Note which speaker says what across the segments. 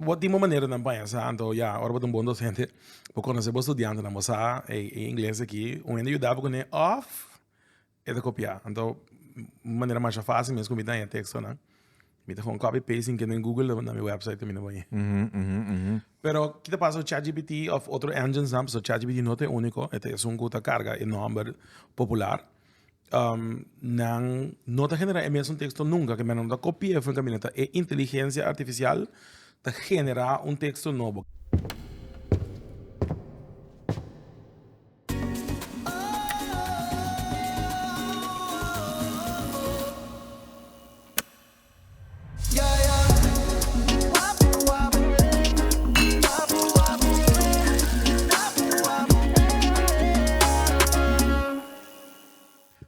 Speaker 1: Bo tin bo manerenan paña sa, anto ya ora bo ta un bon docente bo conoce bo studiantenan bo sa e ingles aki un hende yuda bo kuné of e ta copiá. Anto un manera masha facil mes ku mi ta haña textonan mi ta gewoon copy paste sin kende den google ta mi website ta mina bo ahi. Pero kita pasa ku chat gpt of otro engines nan pasobra chat gpt no ta e unico e ta esun ku ta carga e nomber popular. um, nan no ta genera e mesun texto nunca, ke menos no ta copi'e fu en camino, ta e inteligencia artificial ta genera un texto nobo.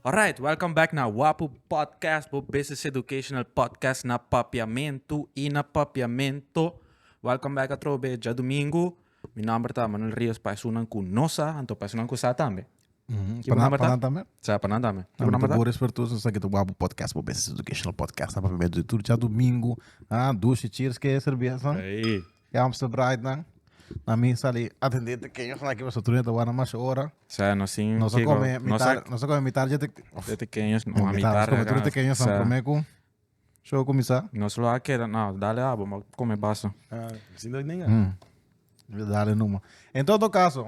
Speaker 1: Alright, welcome back na Wapu Podcast, bo business educational podcast na Papiamentu i na Papiamento. Welcome back atrobe djadumingu. Mi nomber ta Manuel Rios pa esunnan ku no sa, anto pa esunnan ku sa tambe. Kibo nan mata? Panan tambe. Sa, panan tambe. Kibo Kibo nan mata? bo respetuoso sa kita wabo podcast bo best educational podcast na pamia de tur cha domingo ah dushi cheers ke cerveza Ei. ke Amstel Bright nan na mi sali atende te kenyo sa ki boso truneta wana masha ora Sa, no sin... no sa kibo- come no mitar sa- no sa come mitar je te de te keños, no a mitar mitar. come tur te kenyo sa Sa, prome ku show kumisa Nos lo a keda, no, dale abo, ma come baso. Ah, sin dat ninga. Mm. Dale numa. En todo caso,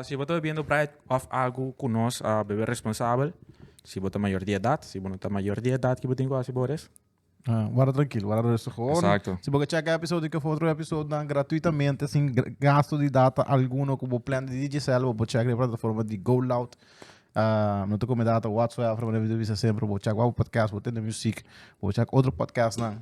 Speaker 1: si bo ta bebiendo bright of agu ku nos a bebe responsabel, si bo ta mayor di edat, si bo no ta mayor di edat kibo tin ku hasi bo res. Wara trankil, wara rustig hoor. Exacto. Si bo ke cheka episodio ke for otro episodio nan gratuitamente sin gasto di data alguno ku bo plan di Digicel bo por chek den plataforma di Go Loud. no ta kome data whatsoever bo debe di bisa semper bo chek wak bo podcast bo tende musiek bo chek otro podcastnan.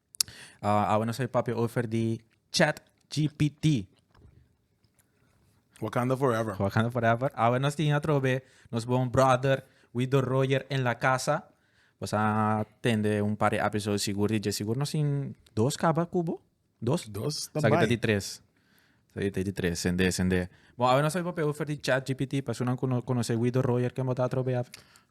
Speaker 1: awe nos a papia over di chat gpt. Wakanda forever. Wakanda forever. Awe nos tin atrobe nos bon brother Wido Royer en la casa. Pues a tende un par de episodio sigur di je sigur nos tin dos kaba kubo. Dos? Dos ta bai. Sa di tres. Sa di tres. Sende, sende. Bon, awe nos a papia over di chat gpt. Personan ku no konosé Wido Royer ken bo ta atrobe awe?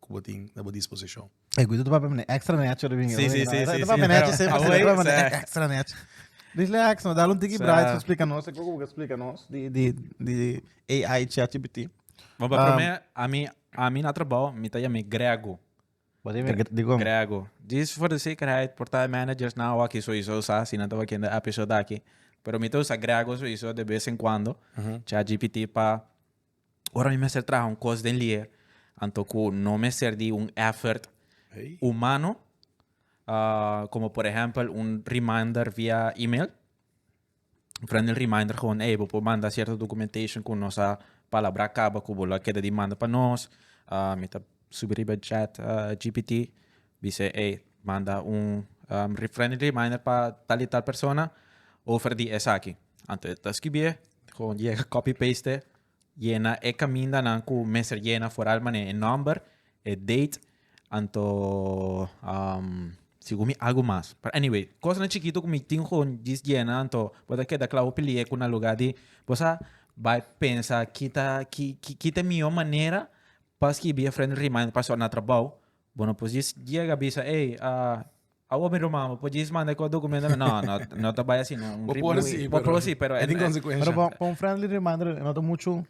Speaker 1: ku bo tin na bo disposishon. E guita ta papia mane extra nechi ora bini. Sí, sí, sí, sí, sí, pero awor es, eh. Extra nechi. Relax no, dal un tiki braai pa splika nos e koko ku bo ta splika nos di di di AI chatgpt. Bo pa promé, ami ami na trabou mi ta yam'é Grego. Bo ta yam'é dikon? Grego. Dis for de sekerheid por ta e managers nan awaki souiso sa si nan ta wakiendo e episode aki. Pero mi ta usa Grego souiso de bes en kuando chatgpt pa. Ora mi mester traha un kos den lié, anto ku no mester di un effort humano, uh, como por ejemplo un reminder via email. Prende el reminder gewoon, hey, bo por manda cierto documentation ku nos a palabra kaba ku bo lo a keda di manda pa nos. Uh, mi ta subi riba chat uh, GPT. Bis'é ey manda un friendly reminder pa tal y tal persona over di esaki. Anto e ta skibié gewoon yega copy paste yena e caminda nan cu mester yena foral mane e number, e date anto segun mi algo mas. Pero anyway cosnan chikito cu mi tin gewoon djis yena anto bo ta keda cla hopi lie cu na lugar di bo sa bay pensa ki ta ki ta e miyo manera pa skibi e friendly reminder pa so na trabao Bo no por djis yega bisa, ey, awo mi ruman, bo por djis manda e kos dokumentonan. No, no, no ta bai asi, no. Bo por si, pero. Bo por si, pero. E tin konsekuensha. Pero pa un friendly reminder no ta muchu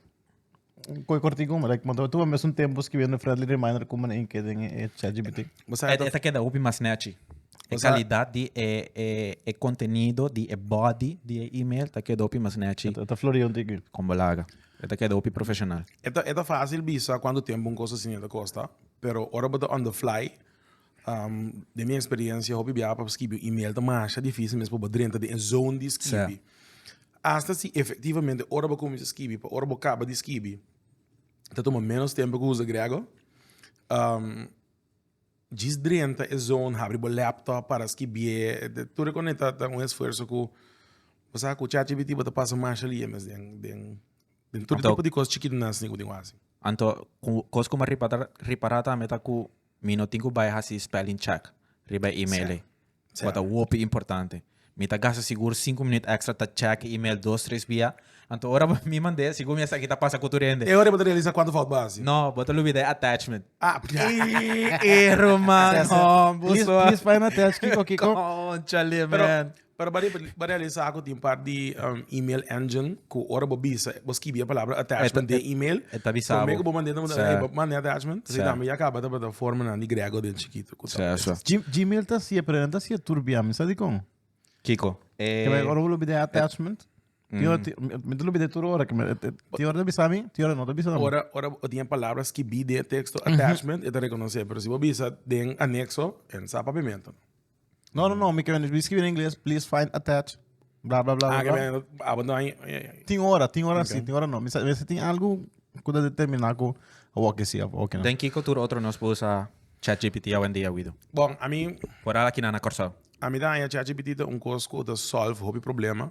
Speaker 1: koe kortiku, like bo ta tuba mes un tempu skibiendo friendly reminder ku manera inke den e chatgpt. Bo sa. E ta keda hopi mas snatchy. E kalidat di e kontenido, di e body di e email ta keda hopi mas snatchy. E ta flori un tiki. Kon bo laga. E ta keda hopi profeshonal. E ta fasil bisa kuantu tempu un kos asina ta kosta. Pero ora bo ta on the fly, den mi experiencia hopi biaha pa skibi un email ta masha dificil mes pa bo drenta den e zone di skibi. Hasta si efectivamente ora bo cuminsha skibi pa ora bo caba di skibi ta tuma menos tempo cu usa grego. Djis drenta e zone, habri bo laptop para skibi'e. Tur e cosnan ta un esfuerzo cu bo sa cu chat gpt bo ta pasa masha lia mes den Den tur tipo di cos chiquitinan asina cu tin cu haci. Anto cu cos cu mi a ripara, ripara tambe ta cu mi no tin cu bay haci spelling check riba e email ei. Cu a ta hopi importante. Mi ta gasta sigur cinco minuut extra ta check e email dos, tres bia. Anto ora mi mand'e, sigur mi esaki ta pasa cu tur hende. E ora bo ta realisa cuantu fout bo haci. No, bo ta lubida e attachment. Ah, p'ia. Ii, Ero man, hombo. Please, please, bai na attach kiko, kiko. Conchale, man. Pero bo riba, bo realisá ku tin un par di email engine ku ora bo bisa, bo skibi e palabra attachment den email, E ta bisá bo. promé ku bo mand'é ta manda, Sè. ey, bo manda e attachment, Sè. dame ya kaba ta bata formanan di grego den chikitu ku Sè, tal. sè. Gim- Gmail ta hasié, pero nan ta hasié turbiá. Mi sa dikon? Kiko? Ke men ora bo lo bid'é e attachment, tin ora, ti- mi- mi ta lo bid'é tur ora. Ke men, e- e- tin ora ta bisa mi, tin ora no ta bisa mi. Ora, ora bo tin e palabra skibí den e teksto attachment, e ta rekonosé. Pero si bo bisa den anekso, e no sa papimento. No, no, no, mi kebendo mi skirbi na ingles, please find attach, bla bla bla. Ah, bla, bla. kebendo abando ay. ay, ay. Tin ora, tin ora si, Ok. tin ora no. Mi sa, mi sa tin algo ku ta determina ku a wokje si, a wokje no. Den ki kultur otro nos por usa ChatGPT awendia, Wido? Bon, a mi, Por ala kinan na Kòrsou. a mi ta haña ChatGPT ta un kos ku ta solve hopi problema.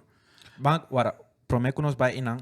Speaker 1: Ban, wara, promé ku nos bai einan,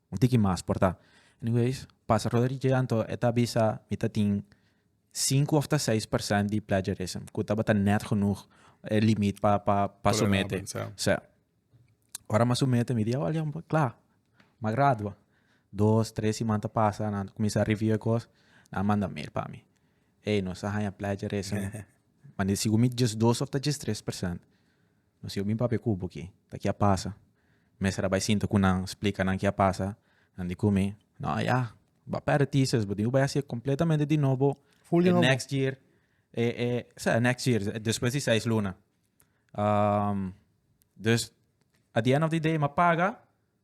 Speaker 1: Un tiki mas por ta. Anyways, pasa Roderick J. Anto e ta bisa mi ta tin sinku of ta seis percent di plagiarism ku tabata nèt genoeg e limit pa pa pa sumete. Tolerabel, sa. Ora mi a sumete mi di awor ya kla, mi a gradua. Dos, tres siman ta pasa nan a kuminsá review e kos, nan a manda mail pa mi. Ey, nos a haña plagiarism. Mane sigur mi djesdos of ta djestres percent. Si yo bin papia ku bo ki ta ki a pasa, mester a bai sinta ku nan, splika nan ki a pasa, nan di ku mi, no a ya, bo a pèrdè thesis, bo tin ku bai hasié kompletamente di nobo e next year, sa e next year, despues di seis luna. Dus at di end of di day mi a paga.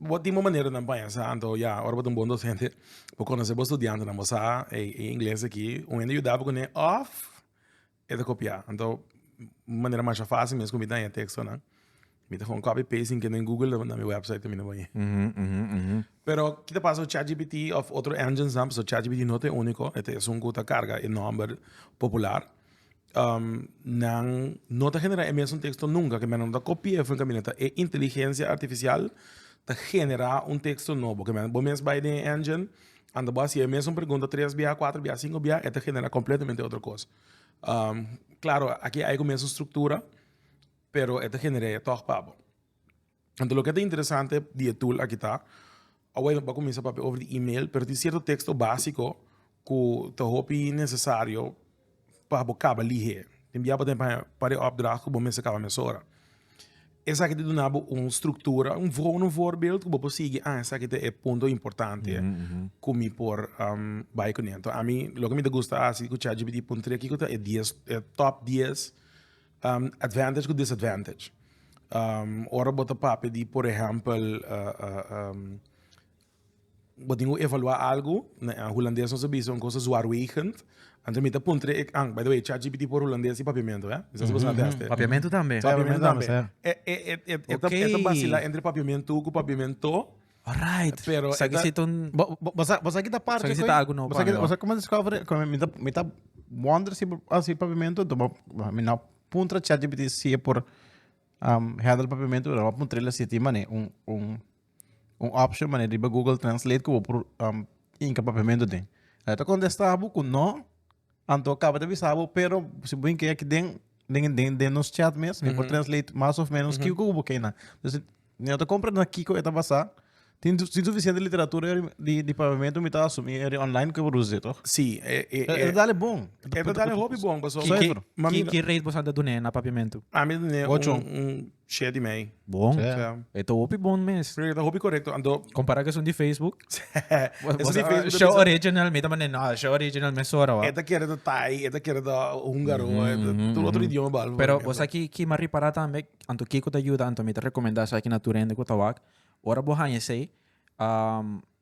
Speaker 1: Bo tin bo maneronan paña sa anto ya ora bo ta un bon docente bo conoce bo studiantenan bo sa e e ingles aki un hende yuda bo kuné of e ta kopiá anto un manera masha fácil mes ku mi daña tekstonan mi ta gewoon copy paste den kende google na mi website mi na bai pero kiko ta pasa ku chat gpt of otro engines nan pasobra chat gpt no ta e úniko e ta esun ku ta karga e nòmber popular. um nan no ta genera e mesun texto nunca kimen nan no ta copia fue kimen ta e inteligencia artificial ta genera un texto nobo kimen bo mes bai den e engine anda bo haci e mesun pregunta tres bia cuatro bia cinco bia e ta genera completamente otro cos um claro aki aika mesun structura pero e ta genera e tok pa bo. Anto loke ta interesante di e tool aki ta, awor mi bai cuminsa papia over di email, pero tin cierto texto basico cu ta hopi necesario pa bo caba lihe. Tin bia bo ta haña par e opdracht cu bo mester caba mesora. Esaki ta duna bo un structura, un vorm voorbeeld, cu bo por sigui, ah esaki ta e punto importante cu mi por bai cun'e. Nto ami, loke mi ta gusta haci cu chatgpt puntra kico ta e dies, e top dies. Advantage ku disadvantage. Ora bo ta papia di por ehèmpel bo tin ku evaluá algu, na hulandes nos ta bisa un kos zwaarwegend. Anto mi ta puntra e, by the way, chatgpt por hulandes i papiamentu, eh? Mi sa si bo sa tester. Papiamentu tambe. Papiamentu tambe. E ta basila entre papiamentu ku papiamento. Alright. Pero Sa eta- kisito un... Bo- bo- Bo sa bo sa kita parte Sa kisita koe? algo nobo Bo sa kita- pa mi, bo sa kome discover e- kome mi ta mi ta wonder si asi papiamento do bo mi na puntra ChatGPT si e por um handle papiamento pero bo puntrel asi tin mane un un un option mane riba Google Translate ku bo por um inka papiamento tin. Lo ta kontesta bo ku no. Anto caba ta bisa bo pero si bo key aki den den den den nos chat mes mi por translate mas of menos kico cu bo key nan. Entonces mi no ta compra na kico e ta basa tin tin suficiente literatura eri di di pavimento mi ta asumi eri online cu e por usa dje toch? Si e e e E ta dale bon. e ta dale hopi bon pasobra. Ki ki rate boso anto a dun'e na papiamento? Ami a dun'e un Ochon. un. Share di mei. Bon. Sea. E ta hopi bon mes. Pero e ta hopi correcto ando. Compara cu esun di Facebook. Esun di Facebook. Show original mi ta manda no show original mes sora wa. E ta kere ta Thai, e ta kere ta húngaro, e ta tur otro idioma behalve. Pero bo sa ki ma repara tambe anto kico ta yuda anto mi ta recomenda esaki na tur hende cu ta wak ora bo haña esey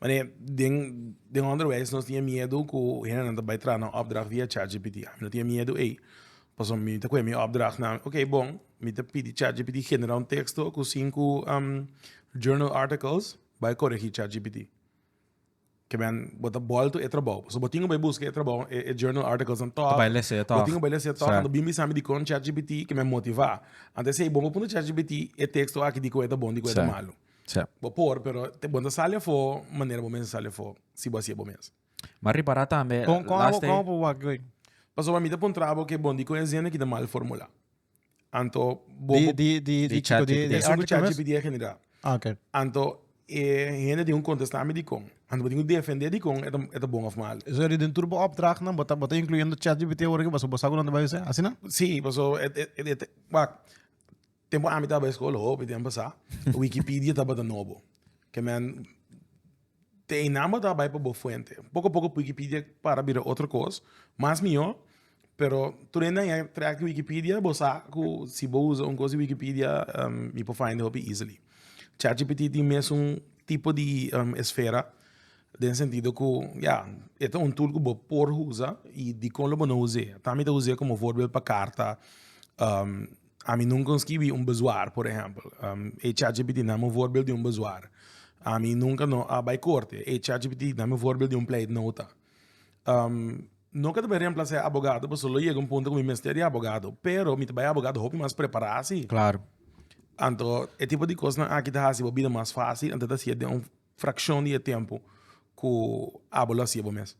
Speaker 1: Mane, den, den onderwijs nos tin e miedu cu hendenan ta bay traha na opdracht via chatgpt. Ami no tin e miedu ey. Pasobra mi ta coge mi opdrachtnan, ok, bon, mi ta pidi chatgpt genera un texto cu cinco journal articles, bay coregi chatgpt. Kibaey, bo ta bal to e trabao. Pasobra bo tin cu bay busca e trabao, e journal articles dan tog. Ta bay lesa e tog. Bo tin cu bay lesa e tog, anto bin bisami dicon chatgpt ta bay motiva. Anto esey, bo por puntra chatgpt e texto aki dicon e ta bon, dicon e ta malo. Sep. Bo por, pero te bon ta sali afó manera bo mes a sali afó, si bo a siye bo mes. Ma ripará tambe, Kon, kon abo, kon abo wak wey? Pasobra mi ta puntra abo ke bon di kon e zende ki ta mal formulá. Anto, bo, Di, bo, di, di, Di di chat chico, di, GPT. di Esun ku article mes? ChatGPT a generá. Ah, ok. Anto, e hende tin ku kontestá mi dikon. Anto, bo tin ku defendé dikon e ta, e ta bon òf mal. Eso yari den tur bo opdrachtnan, bo ta, bo ta incluyendo ChatGPT ora ki paso bo sa kunan ta bai us'é? Asina? Sí, paso, e, e, e, e, e, wak. Tempu ami taba eskola, hopi tempu sa, Wikipidia tabata nobo. Ke men, te einan bo ta bai pa bo fuente. Poko a poko Wikipidia para bira otro kos, mas mihó, pero tur einan ya trek di Wikipidia, bo sa ku si bo usa un kos di Wikipidia yu por find'e hopi easily. ChatGPT tin mesun tipo di esfera, den sentido ku, ya, e ta un tool ku bo por usa i dikon lo bo no us'e. Ta mi ta us'e komo vorbel pa karta. Ami nunca un skibi un bezwaar, por ehempel. E chatgpt na mi un voorbeeld di un bezwaar. Ami nunca no a bai korte. E chatgpt na mi un voorbeeld di un pleitnota. no ke ta bay remplasá e abogado, pasobra lo yega un punto ku mi mester e abogado. Pero mi ta bai abogado hopi mas prepará si. Anto e tipo di kosnan aki ta hasi bo bida mas fásil, anto e ta hasié den un frakshon di e tempu ku abo lo hasié bo mes.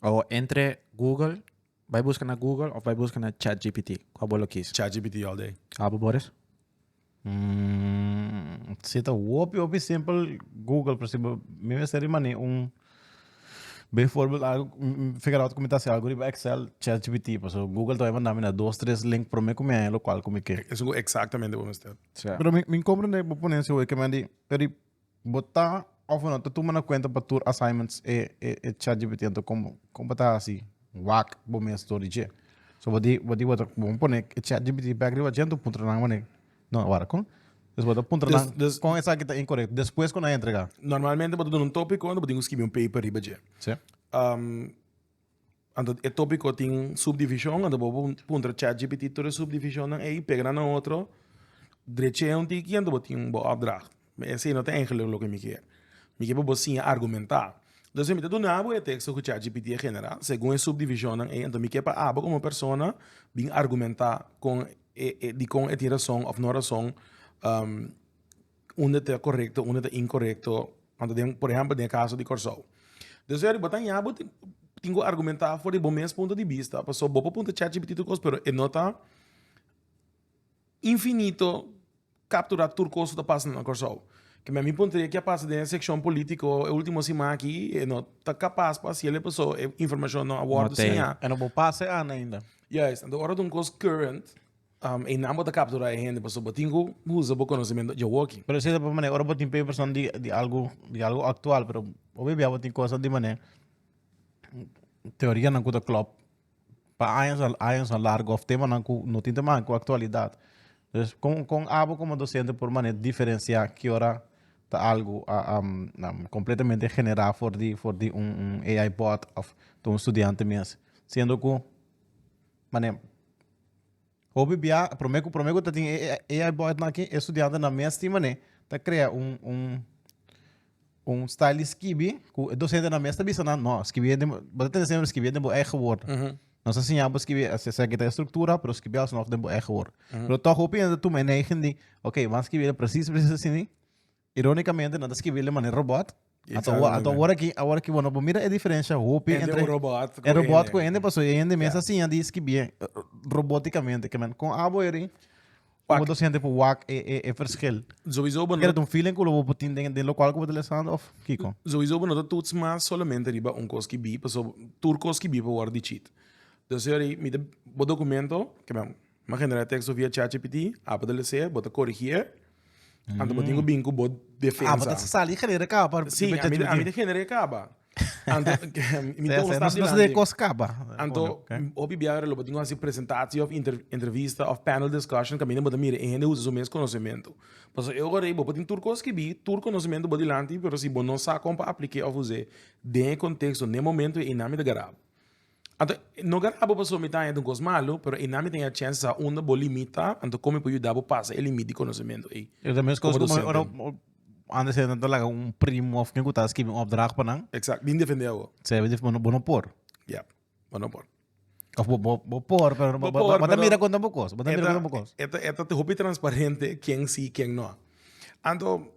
Speaker 1: O entre Google, bai buska na Google of bai buska na ChatGPT? Kua bo lo kis? ChatGPT all day. Abo Boris? Mm, si ta hopi hopi simpel Google, pero si bo- mi mester di mani un bijvoorbeeld algo mm, figure out como ta haci algo riba Excel, ChatGPT, paso Google ta bay manda mi na dos tres link pero mi cu mi hay lo cual cu mi ke. Eso cu exactamente bo mester. Sea. Pero mi mi comprende bo ponencia hoy ke man di pero di Bo ta of bo no ta tuma na kuenta pa tur assignments e e chatgpt anto kon kon bo ta hasi wak bo mes dor di dje? So bo di bo di bo ta bon pone e chatgpt bek riba dje anto puntra nan awuné no wara kon dus bo ta puntra nan Des- des- kon esaki ta inkorekto despues ku nan a entrega. Normalmente bo ta duna un topiko anto bo tin ku skibi un paper riba dje. Sí. Anto e topiko tin subdivishon, anto bo por puntra chatgpt tur e subdivishonnan ei, pega nan na otro, dreche'e un tiki anto bo tin bo opdracht. Me esei no ta enkele loke mi ker. Mi ke pa bo siña argumentá. Entonces mi ta duna abo e teksto ku chatgpt a generá segun e subdivishonnan ei, anto mi ke pa abo komo persona bin argumentá kon e e dikon e tin rason òf no rason unda ta korekto unda ta inkorekto por ehempel den e kaso di Kòrsou dus wèr bo ta ña bo tin ku argumenta for di bo mes punto di bista paso bo por puntra chatgpt kos pero e no ta infinito kapturá tur kos ku ta pasa na Kòrsou ke mi a mi puntra e ke a pasa den e sekshon polítiko e ultimo siman aki e no ta kapas pa hasiel paso e informashon no a wòrdu siña. Ora bo un kos current. E nan bo ta kapturá e hende pasobra bo tin ku usa bo konosementu djawoki. Pero esei ta por manera ora bo tin perepeshon di algu di algu aktual pero hopi bia bo tin kos di manera teorianan ku ta klòp pa años años largu òf temanan ku no tin ta maka ku aktualidat. Pues kon kon abo komo dosente por manera diferensiá ki ora ta algu kompletamente generá for di for di un un AI bòt òf ta un studiante mes siendo ku manera. Hopi bia, promé ku promé ku ta tin e AI botnan aki, e studiantenan mes tin manera ta krea un un un style di skibi ku e dosentenan mes ta bisa nan, no, skibie den bo ta tende semper skibie den bo eigen word. Nos a siña bo skibie esei sa kita e struktura, pero skibie alsnoh den bo eigen word. Pero tòg hopi hende ta tuma e neiging di, ok, bo a skibie presis presis asini, Irónikamente nan ta skibi el di manera robòt. Ato awor aki, awor aki, bo mira e diferensha hopi entre e robòt ku e hende pasobra e hende mes a siña di skibié robótikamente. Kon abo eri ku bo ta siente pa wak e perskil? Ker ta un feeling ku bo por tin den lokual ku bo ta lesan òf kiko? Sowisó bo no ta tuts mas solamente riba un kos skibí pasobra tur kos skibí por wòrdu dichit. Bo ta dokumentu, M'a generá e teksto via chatgpt, apa ta lese, bo ta korigí e. Anto bo tin ku bin ku bo defensa. Apa ta salí genera kaba. Sí, a mi, a mi ta generá e kaba. Anto, mi ta un stap dilanti. Nos de kos kaba. Anto, hopi bia lo bo tin ku hasi presentatie òf inter, entrevista òf panel discussion kaminda bo ta mira e hende usa su mes konosementu. Pasobra e orador ei bo tin tur kos skibí, tur konosementu bo dilanti, pero si bo no sa kon pa aplik'é òf us'é den e konteksto, n'e momentu ei, nan mi ta garabo. Anto, no graba bo pasobra mi ta haña tin kos malu, pero ey nan mi ta haña chèns di sa unda bo limit ta, anto kon mi por yuda bo pasa e limit di konosementu ey? E ta meskos ku ora antes nan ta laga un primo òf ken ku ta skibi un opdracht pa nan. Exact, bin defendé awo. Sey, bo ta, bo no por. Ya, bo no por. Òf bo bo bo por pero bo por pero bo ta mira konta bo kos, bo ta mira konta bo kos. E ta e ta hopi transparente ken si ken no. Anto,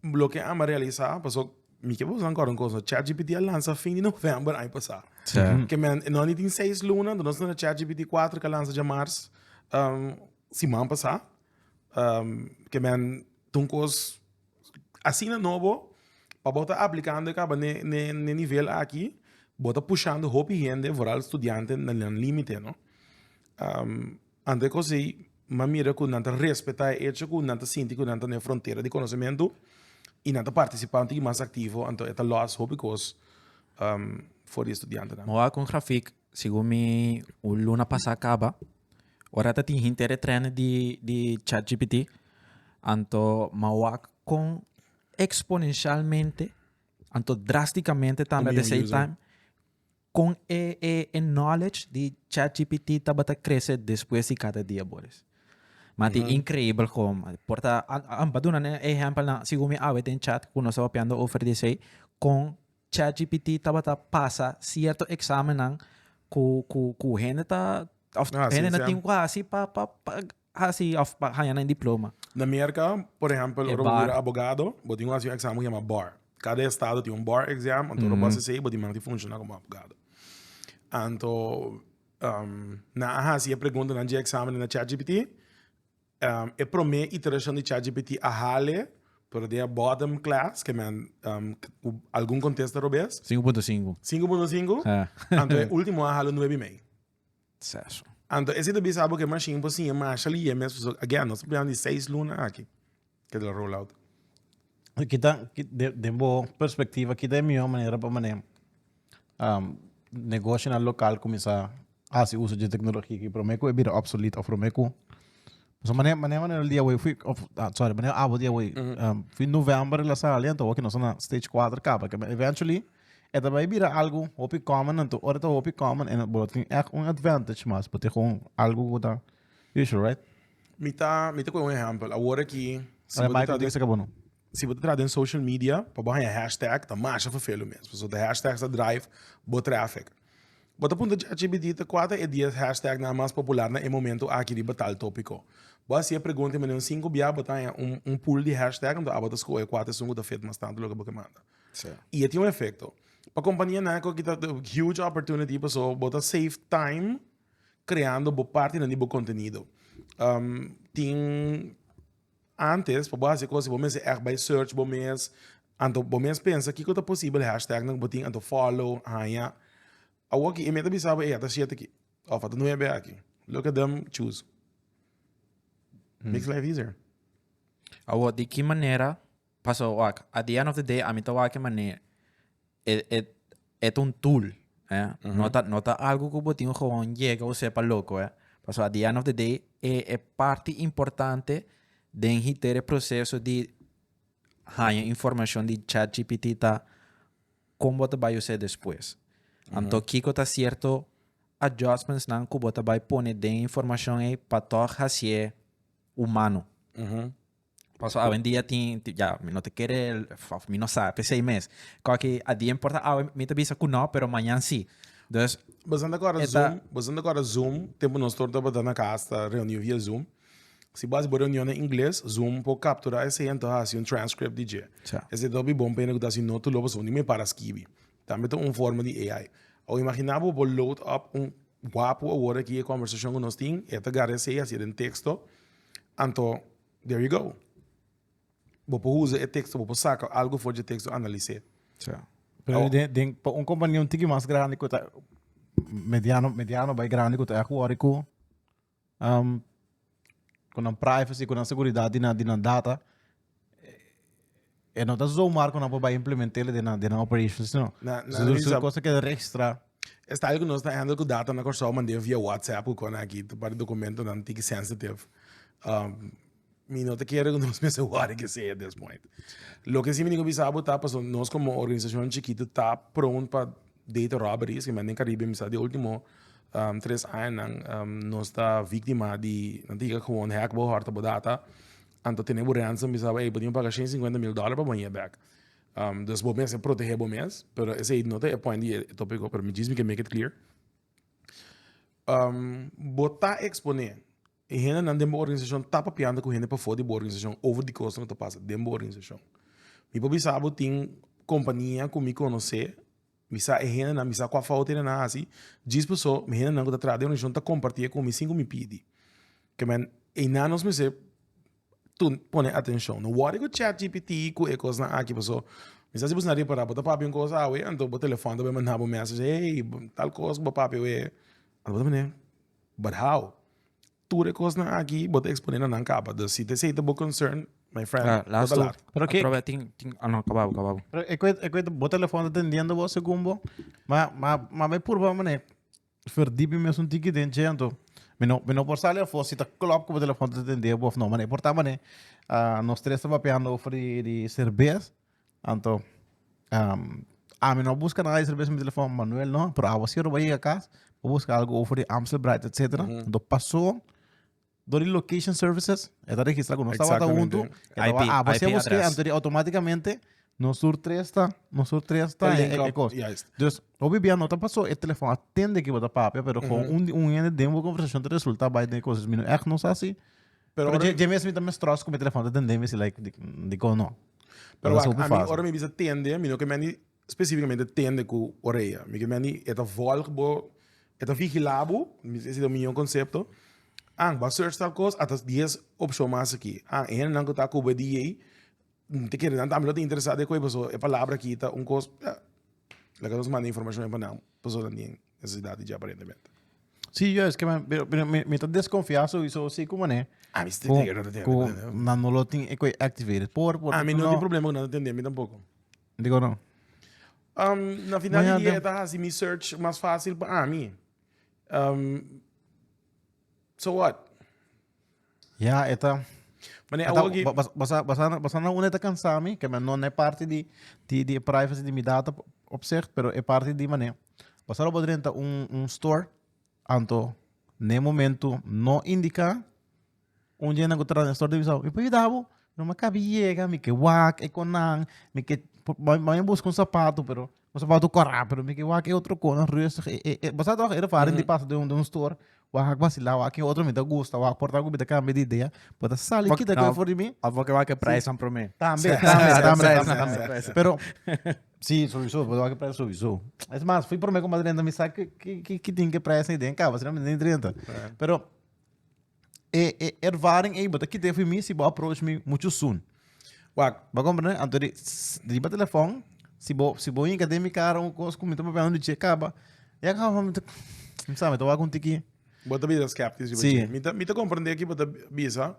Speaker 1: loke a'an a realisá, pasobra. Mi ke boso ankor un kosa. ChatGPT a lansa fin di november aña pasa. Sí. Ke men, no ni tin seis luna, do nos na ChatGPT 4 ka lansa dja mars, um, siman pasa. Um, ke men, tun kos asina nobo, pa bo ta aplikando e kaba n'e, n'e, n'e nivel aki, bo ta pushando hopi hende, vooral studianten, na nan limite, no? Um. Ante ku esei, m'a mira ku nan ta respetá e echo ku nan ta sinti ku nan ta na e frontera di konosementu i nan ta partisipá un tiki mas aktivo, anto e ta lòs hopi kos for di studiantenan. M'a wak un grafik, segun mi, un luna pasá kaba, ora ta tin hinter e trèn di di chatgpt, anto m'a wak kon eksponenshalmente, anto drástikamente tambe at de same time, Con e e e knowledge di chatgpt tabata crece despues di cada dia Boris. Ma ti increíbel como. Por ta, am pa duna ne ejempel na, según mi awe den chat cu nos papiando over di esey, con chatgpt tabata pasa cierto examennan cu cu cu hende ta, of hende no tin cu haci pa pa pa hasi of pa haña nan diploma. Na Merka, por ehempel, ora bo bira abogado, bo tin ku hasi un eksamen ku yama bar. Kada estado tin un bar exam, anto ora bo hasi esei bo diman di funshoná komo abogado. Anto, nan a hasi e preguntanan dje eksamen den na Chat gpt, e promé iterashon di Chat gpt a hale, pero den e bottom class, ke men ku algun kontesta robes. Sinku punto sinku. Sinku punto sinku, anto e último a hale un nuebe i mei. Sexo. Anto ese ta bisa bo ke machine por siña masha lihé mes so again nos ta prehando di seis luna aki ke ta roll out. Kita de de bo perspectiva kita e mihó manera pa manera um negoshonan local kuminsá hasi uso dje teknologia aki promé ku e bira obsolet òf promé ku pasobra manera manera manera el di awor fui òf sorry manera abo di awor fui november la sali anto awor ke nos ta na stage kuater kaba ke eventually. E ta bai bira algu hopi common anto ora ta hopi common en bo tin echt un advantage mas bo tin gewoon algu ku ta usual right. Mi ta mi ta kohe un ehempel awor aki si bo ta tra den si bo ta tra den social media pa bo haña hashtag ta masha fefelu mes pasobra ta hashtags ta drive bo traffic bo ta puntra chat gpt ta kua ta e dies hashtag nan mas popular na e momento aki riba tal topico bo a hasi e pregunta manera un sinku bia bo ta haña un un pool di hashtag anto abo ta skohe kua ta esun ku ta fit mas tantu loke bo ke manda. Y e tin un efecto. Pa compania naco ki ta huge opportunity paso bo ta save time creando bo parti nan di bo contenido. Um, tin antes pa bo haci cos bo mester echt bay search bo mes, anto bo mes pensa kico ta posible hashtag nan cu bo tin anto follow, haya. Awo ki e meta bisa bo ey ata siete aki of ata nuebe aki. Look at them choose. Makes life easier. Awo di ki manera Paso wak, at the end of the day a mi ta wak e manera e e e ta un tool eh, no ta no ta algo ku bo tin gewoon yega o sepa loko eh, paso at the end of the day e e parti importante den hiter e proseso di haña informashon di chat gpt ta kon bo ta bai use despues. Anto kiko ta sierto adjustmentsnan ku bo ta bai pone den e informashon ei pa tòg hasié humano? Paso awendia tin ya mi no ta kere of mi no sa pesey mes koki a dia importa awe mi ta bisa ku no pero mañan si dus Bazan ta kora Eta- Zoom, bazan ta kora Zoom, tempu nos tor tabata na kas ta reuniu via Zoom. Si bo hasi bo reunion na ingles, Zoom por kapturá esei anto hasi un transcript di dje. Sa. Esei ta hopi bon pa hende ku ta hasi notu lo, pasobra bo ni me para skibi. Tambe ta un forma di AI. Awo imaginá bo bo load up un wapu awor aki e kòmbersashon ku nos tin, e ta garra esei hasi den teksto, Anto, there you go. Bo por usa e teksto, bo por saka algu for di e teksto, analis'é. Sa. Pero Awo. den, den, pa un kompania un tiki mas grandi ku ta mediano, mediano bai grandi ku ta yahku wòrdu ku um, ku nan privacy, ku nan seguridat di nan, di nan data, E no ta zomar ku nan por bai implement'é den nan den nan operations no. Na- na Su su kos ta keda registrá. Estallo ku nos ta handle ku data na Kòrsou a mand'é via whatsapp ku kòne aki ta parti dokumentonan tiki sensitive. Mi no ta kere ku nos mester wòrdu kesei at this point. Loke si mi tin ku bisa bo ta pasobra nos komo organisashon chikitu ta pront pa data robberies. Ki mi anda den Karibe mi sa di e último tres añanan nos ta víktima di nan ta yega ku hòkbohòr ta bo data. Anto tene bo ransom bisaba, ey, bo tin paga shen sinkuenta mil dòler pa bo baña e bek. Um, dus bo mester protege bo mes, pero esei no ta e point di e tópiko, pero mi djis mi ke make it clear. Um, bo ta eksponé, e hendenan den bo organisashon ta papianta ku hende pafó di bo organisashon over di kos ku ta pasa den bo organisashon. Mi por bisa bo tin kompania ku mi konosé. Mi sa e hendenan, mi sa kua fout e hendenan a hasi, djis paso mi hendenan ku ta traha den organishon ta komparti e ku mi sin ku mi pidi. Kemen einan nos mester pone atenshon. No wòri ku chat gpt ku e kosnan aki paso mi sa si bo ta repará bo ta papia un kos awe anto bo telefòn ta bin manda bo mèssesj hey tal kos ku bo papia awe anto bo ta mene barhau. Tur e kosnan aki bo ta eksponé na nan kaba. Dus si ta esei ta bo konsern, my friend, bo ta lat. Pero ke, Atrobe tin, tin, ah no, kaba bo, kaba bo. pero e ku e, e ku e bo telefòn ta tendiendo bo segun bo, ma, ma, ma mi purba manera verdí mi mes un tiki den dje anto mi no, mi no por sali afó si ta klòp ku bo telefòn ta tendé bo òf no, mane e por ta mane, ah, nos tres ta papiando over di, di serbes. Anto ami no a buska nada di serbes na mi telefòn, Manuel no, pero awa si Robert yega kas, bo buska algu over di Amstel Bright etsetera, anto paso dor di location services e ta registra ku nos tabata huntu, e tabatin Exactamente. awa si a IP busk'e, address. anto di outomaticamente nos tur tres ta, nos tur tres ta Link e up, kos. juist. Dus hopi bia no ta paso e telefòn a tende ku bo ta papia, pero kon un un hende den bo konversashon ta resulta bai den e kos. Dus mi no ègt nos a hasi Pero ora- dje mes mi ta mes tròst ku mi telefòn ta tendé mi si like di dikon no. Pero Ora wak, sopi a mi fásil. ora mi bisa tende, mi no ke mendi spesifikamente tende ku orea. Mi ke mendi e ta vòlg bo, e ta vigilá bo, mi si esei ta mi yon konsepto. An, bo a search tal kos, a ta dies opshon mas aki. An, e hendenan ku ta akube di yei, N ta kere nan tambe lo ta interesa den koe pasobra e palabra aki ta un kos ya laga nos manda informashon den pa nan pasobra nan tin nesesidat di dje aparentemente. Sí, jues, pero mi ta desconfia sowiso si ku manera ku nan no lo tin e koe activated por. A mi no tin problema ku nan ta tende mi tampoco. Diko no? Na final di dia e ta hasi mi search mas fácil pa ami. So what? Ya e ta Mane, awo aki. Basa na una e ta kansa mi, ke no e parti di di privacy di mi data op sech, pero e parti di mane, basa lo bo drenta un store, anto n'e momento no indica un dje nan ku tra den store di Bisau, mi por yuda bo? No mi a kabi yega, mi ke wak e konan, mi ke, bo a busca un sapato pero. Bo sa boutu kor rápido, mi ke wak e otro konan rustig. E, e, e, bo sa toch, e ervaring di pasa den un, den un store, wak hak vacilá, wak e otro mi ta gusta, wak por taku mi ta kambia di idea, bo ta sali Bo- kita no. koi for di mi, Of bo ke wak e prijs van promé. tambe, tambe, Sa- tambe, prijs, tambe, sa- tambe. prijs. Pero, sí, sowieso, bo ta wak e prijs sowieso. Es mas, fui promé komá drenta, mi sa ke, ke, ke, ke tin ke prijs na i den kaba, asina mi no tin drenta. Pero, e, e ervaring ei, bo ta kite for mi si bo approach mi mucho soon. Wak, bo comprende? Anto di, riba telefon, si bo, si bo inka den mi cara un kos ku mi ta papia un dice kaba, ya ka mi ta, mi sa, mi ta wak un tiki. Bo ta bisa skeptis riba si. Mi ta, mi ta comprende ki bo ta bisa,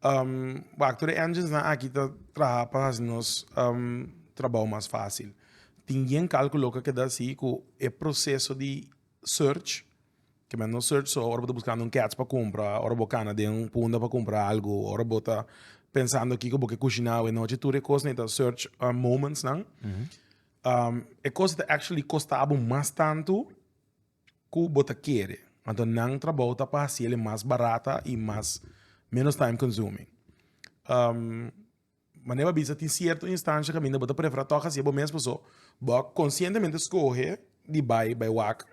Speaker 1: um, wak, tur e engines nan aki ta traha pa hasi nos um, trabao mas facil. Tin yen calculo ku a keda si ku e proceso di. search, ke men no search so ora bo ta buskando un kèts pa kumpra, ora bo kana den un punda pa kumpra algu, ora bo ta pensando kiko bo ke kushiná awe nochi, tur e kosnan e ta search moments nan. E kos ta actually kosta bo mas tantu ku bo ta kere. Anto nan trabou ta pa hasiel e mas barata i mas, menos time consuming. Manera bo a bisa tin cierto instancia caminda bo ta prefera toca haci'e bo mes paso bo conscientemente scoge di bay bay wak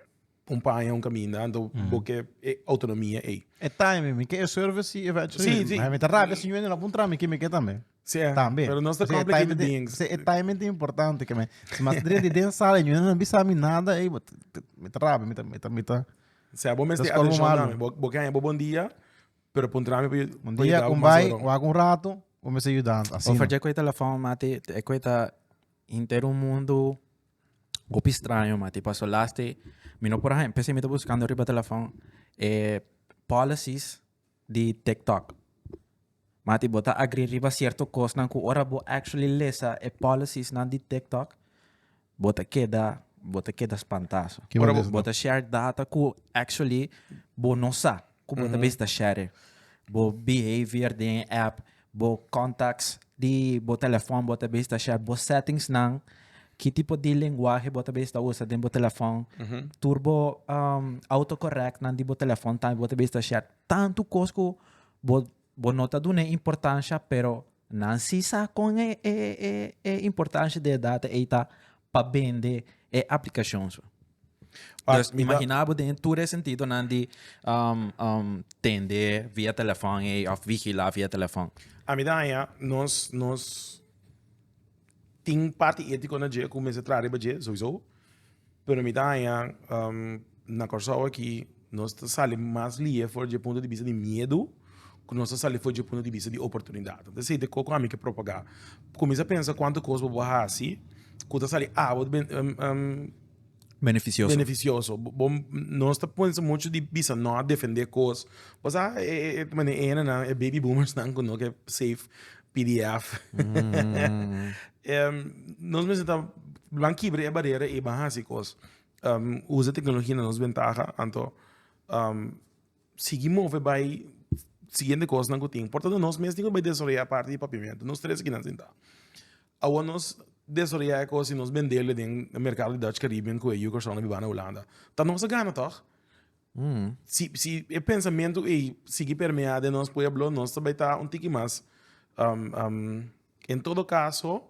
Speaker 1: un paña un caminda anto bo ke e autonomia ey. E timing mi ke e service si eventually. Si si. Mi ta rabia si Juanita no pun traha mi ke mi ke tambe. Si eh. Tambe. Pero nos ta complicated beings. E timing ta importante ke me si mas dren di den sala y Juanita no bisa mi nada ey mi ta rabia mi ta mi ta mi ta. Si bo mes tin atencion nami bo ke haña bo bon dia Pero puntra ami pa yu Un dia con bay wak un rato bo mester yudan asina. Of dje cu e telefoon mati e cu ta inter un mundo hopi straño mati paso lasti mi no por haña p'esei mi ta buscando riba telefoon e policies di tiktok mati bo ta agree riba cierto cosnan cu ora bo actually lesa e policies nan di tiktok Bo ta keda bo ta keda spantá so. Kiman es Bo ta nan? share data ku actually bo no sa ku bo ta bisa ta share. Bo behavior den e app, bo contacts di bo telefòn bo ta bisa ta share, bo settings nan, ki tipo di lenguahe bo ta bisa ta usa den bo telefòn, tur bo um autocorrect nan di bo telefòn tambe bo ta bisa ta share. Tantu kos ku bo bo no ta dun'e importansha pero. Nan si sa con e e e e importancia di e data ey ta pa bende e aplicacion su. Pa Dus mi da- imagina bo den tur e sentidonan di um, um, tende via telefon ey of vigila via telefon. A mi ta haña nos nos Tin parti etiko na dje ku mester traha riba dje souiso, pero mi ta haña na Kòrsou aki nos ta sali mas lie for dje punto di bista di miedu ku nos ta sali for dje punto di bista di oportunidat. Entonces esei ta e kos ku ami ke propagá. Kuminsá pensa kuantu kos bo por hasi ku ta sali abro Beneficioso. Beneficioso. Bo, nos ta ponse mucho di bisa no a defende cos. Pues ah, e, e, mane ene nan, e baby boomers nan kuno ke safe PDF. Mm. um, nos mensen ta blan kibre e barrera e ban hasi cos. Um, usa tecnología na nos ventaja, anto um, sigui move bai siguiente cosnan cu tin. Por tanto nos mes tin cu bai desaroya parti di Papiamento. Nos tres kinan sinta. Awo nos desaroya e cos y nos bendel den e mercado di Dutch Caribbean cu e yu Corsounan biba na Hulanda. Ta nos a gana toch? Si si e pensamento ey sigui permea den nos pueblo nos ta bai ta un tiki mas en todo caso.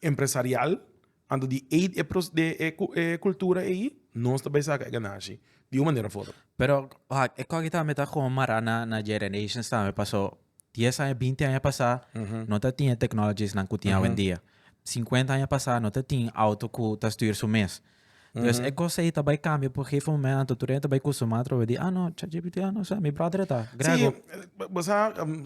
Speaker 1: empresarial anto di eet e pro de e e cultura ei nos ta bay saca e ganashi di un manera of otro. Pero wacht, e cogi tambe ta como mara na na generations tambe paso dies aña binti aña pasa no ta tin e technologies nan cu tin awendia. Cincuenta aña pasa no ta tin auto cu ta stuur su mes. Entonces, e cosa ahí ta bai cambia por gegeven moment anto tur ta bai costumado trove di, ah no, ChatGPT, ah no, sa, mi brother ta, Grego. Sí, bo sa, um,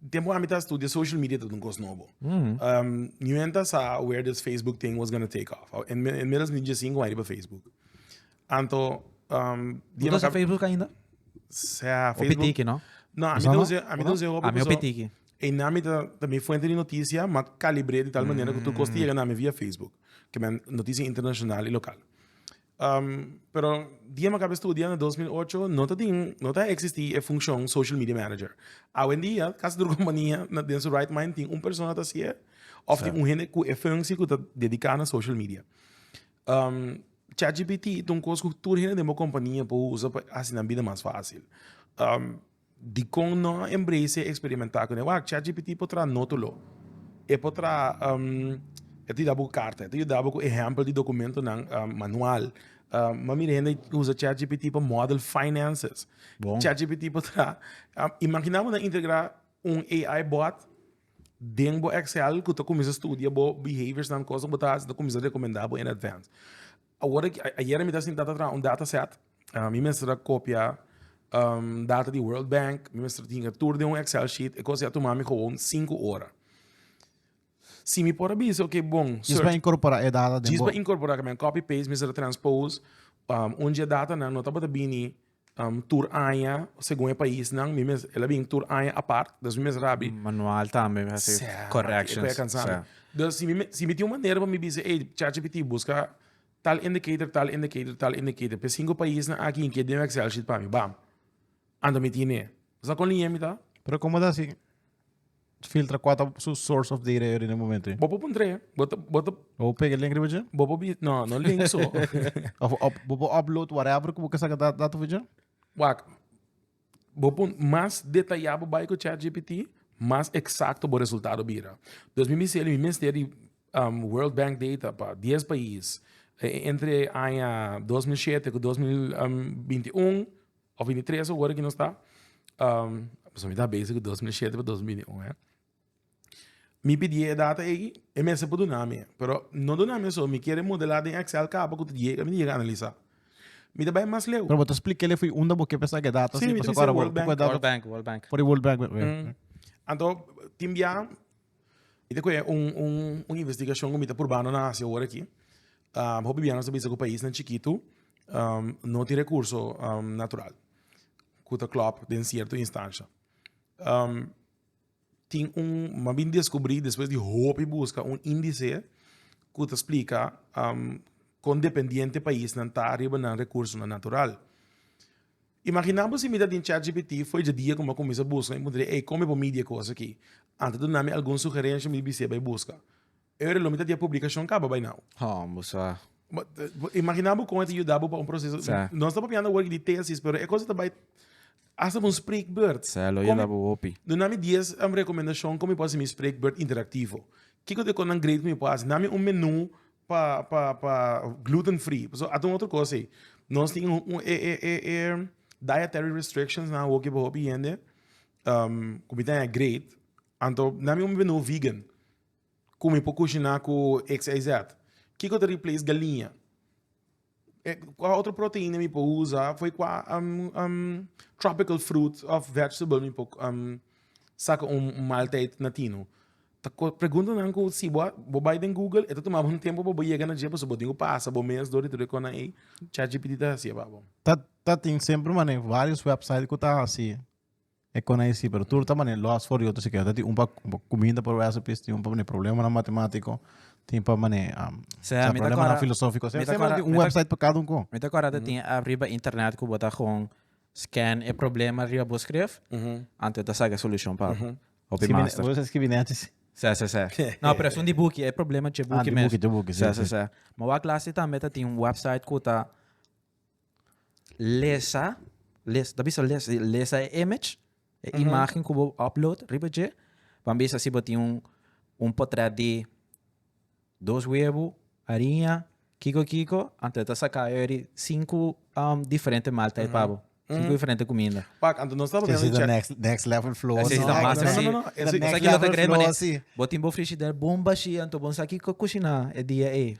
Speaker 1: tempo ami ta studia social media ta un cosa nobo. Mm. Um, niwen ta sa where this Facebook thing was gonna take off. En, en middels mi je cinco años pa Facebook. Anto, um, dia Usa Facebook ainda? Sa, Facebook. O pitiki, no? No, ami ta usa, ami ta usa hopi. Ami o pitiki. E nami ta ta mi fuente di noticia, ma calibre di tal manera que tu kost llega nami via Facebook, que men noticia internacional y local. Um, pero dia me acabé estudia na 2008, no ta tin, no ta existi e funcion social media manager. Awen dia, casi tur compania na den su right mind tin un persona ta sie, of tin un hende cu e functie cu ta dedica na social media. Um, ChatGPT ta un cos cu tur hende den bo compania po usa pa haci nan bida mas facil. Um, Dikon no a embrace e experimentá cu newak? ChatGPT por traha notulo. E por traha, um, e ta yuda bo cu carta, e ta yuda bo cu ehempel di documentonan, um, manual. Um, mami di hende usa ChatGPT pa model finances. Bon. ChatGPT por traha, um, imagina bo na integra un AI bot den bo Excel cu ta cuminsa studia bo behaviors nan, cosnan cu bo ta haci, ta cuminsa recomenda bo in advance. Awor aki, ayer mi ta sinta ta traha un data set, mi mester a kopia data di World Bank, mi mester tinga tur den un excel sheet, e kos ei a tuma mi gewoon sinku ora. Si mi por a bisa, oke bon, search. Djis pa inkorporá e data den bo. Djis pa inkorporá, mi a copy paste, mi mester a transpose, un dje datanan no tabata bini. um tur aña segun e paisnan mi mes el a bin tur aña apart dus mi mes rabbi manual tambe mi hasi corrections dus si mi si mi tin un manera pa mi bisa ey chat gpt busca tal indicator tal indicator tal indicator p'e cinco paisnan aki in keda den excel sheet pa mi bam anto mi tin e sa con línea mi ta pero como ta si. Filtra cua ta su source of data riba e momento ain. Bo por puntra ya. Bo ta, bo ta. Bo pega e link riba dje? Bo por, no, no link so. of, of, bo por upload whatever cu bo ke saca data riba dje? Wak, bo por mas detaya bo bai cu ChatGPT, mas exacto bo resultado bira. Dus mi bisa el, mi mester di um, World Bank data pa dies pais, entre aña dos mil shete cu dos mil, um, binti un, Of ini tres ora ki nos ta um, mi ta bezig ku 2007 pa 2021 eh. Mi pidi e data ei, e mesa por duna mi, pero no duna mi so, mi kere modelar den Excel kaba ku ta llega, mi llega analiza. Mi ta bai mas leu. Pero bo ta explica ele foi un da bo ke pesa ke data Sí, si mi ta pasa bisa kora bo. World Bank. World Bank, World Bank. Por World Bank. Mm. Anto, timbia, Mi ta kue un un investigashon ku mi ta purbando na hasi awor aki. Hopi bianan ta bisa ku paisnan chikitu no tin rekurso natural ku ta klòp den sierto instansha. Tin un, mi a bin deskubrí despues di hopi buska un indisé ku ta splika kon dependiente paisnan ta riba nan rekursonan natural. Imaginá bo si mi ta tin ChatGPT for dje dia ku mi a kuminsá buska i puntra di ey kon mi por midi e kos aki antes duna mi algun sugerensha mi bist'é bai buska e ora lo mi ta tin e publikashon kaba bai nau. Hon bo sa. Imaginá bo kon e ta yuda bo pa un proseso nos ta papiando awor di tesis pero e kos ta bai hasta pa un spreekbeurt sa lo yuda bo hopi duna mi dies rekomendashon kon mi por hasi mi spreekbeurt interaktivo kiko ta e kos nan great ku mi por hasi na mi un menú. Pa pa pa gluten free pasobra a ta un otro cosa ey nos tin e e e e dietary restrictions nan awor ke pa hopi hende ku mi ta haya great anto nan mi hopi bendo vegan ku mi por kushina ku xyz kiko ta replace galiña. Eh, qua otro proteína mi por usa foi qua um, um, tropical fruit of vegetable mi por um, saca un, un maaltijd natino. Ta pregunta nan ku si bo bo bai den Google eto toma un tempo bo llega na je paso bo tengo pasa bo mes dori tu ko na e ChatGPT ta hacia babo. Ta ta tin sempre mane varios website ku ta hasi. E con ahí sí, pero tur ta mane lost for yo ta sikiera ta tin un pa cuminda por recipes, tin un pa mane probleman matematico, tin pa mane probleman filosofico. Sey ta mane tin un website pa cada un con. Mi ta acorda ta tin ariba internet cu bo ta con scan e problema riba bo scref antes bo ta saca e solucion pa bo. Hopi master. Bo ta scribi nechi si. Sey, sey, sey. No, pero esun di buki, e problema dje buki mes. Ah, di buki, dje buki, sí, sí. Sey, sey, sey. Ma wak lasi tambe ta tin un website cu ta Lesa, les, ta bisa les, lesa e image, e imagen ku bo upload riba dje, pa bisa si bo tin un, un potret di dos webu, ariña, kiko kiko, anto e ta saka yori sinku diferente maaltyd pa bo, sinku diferente kuminda. Wak, anto nos ta pone un check. Esei ta next level flow así. Esei ta mas así. No, no, no, esei ta next level flow así. Bo tin bo frishider bomba shi, anto bo no sa kiko kushiná e dia ei.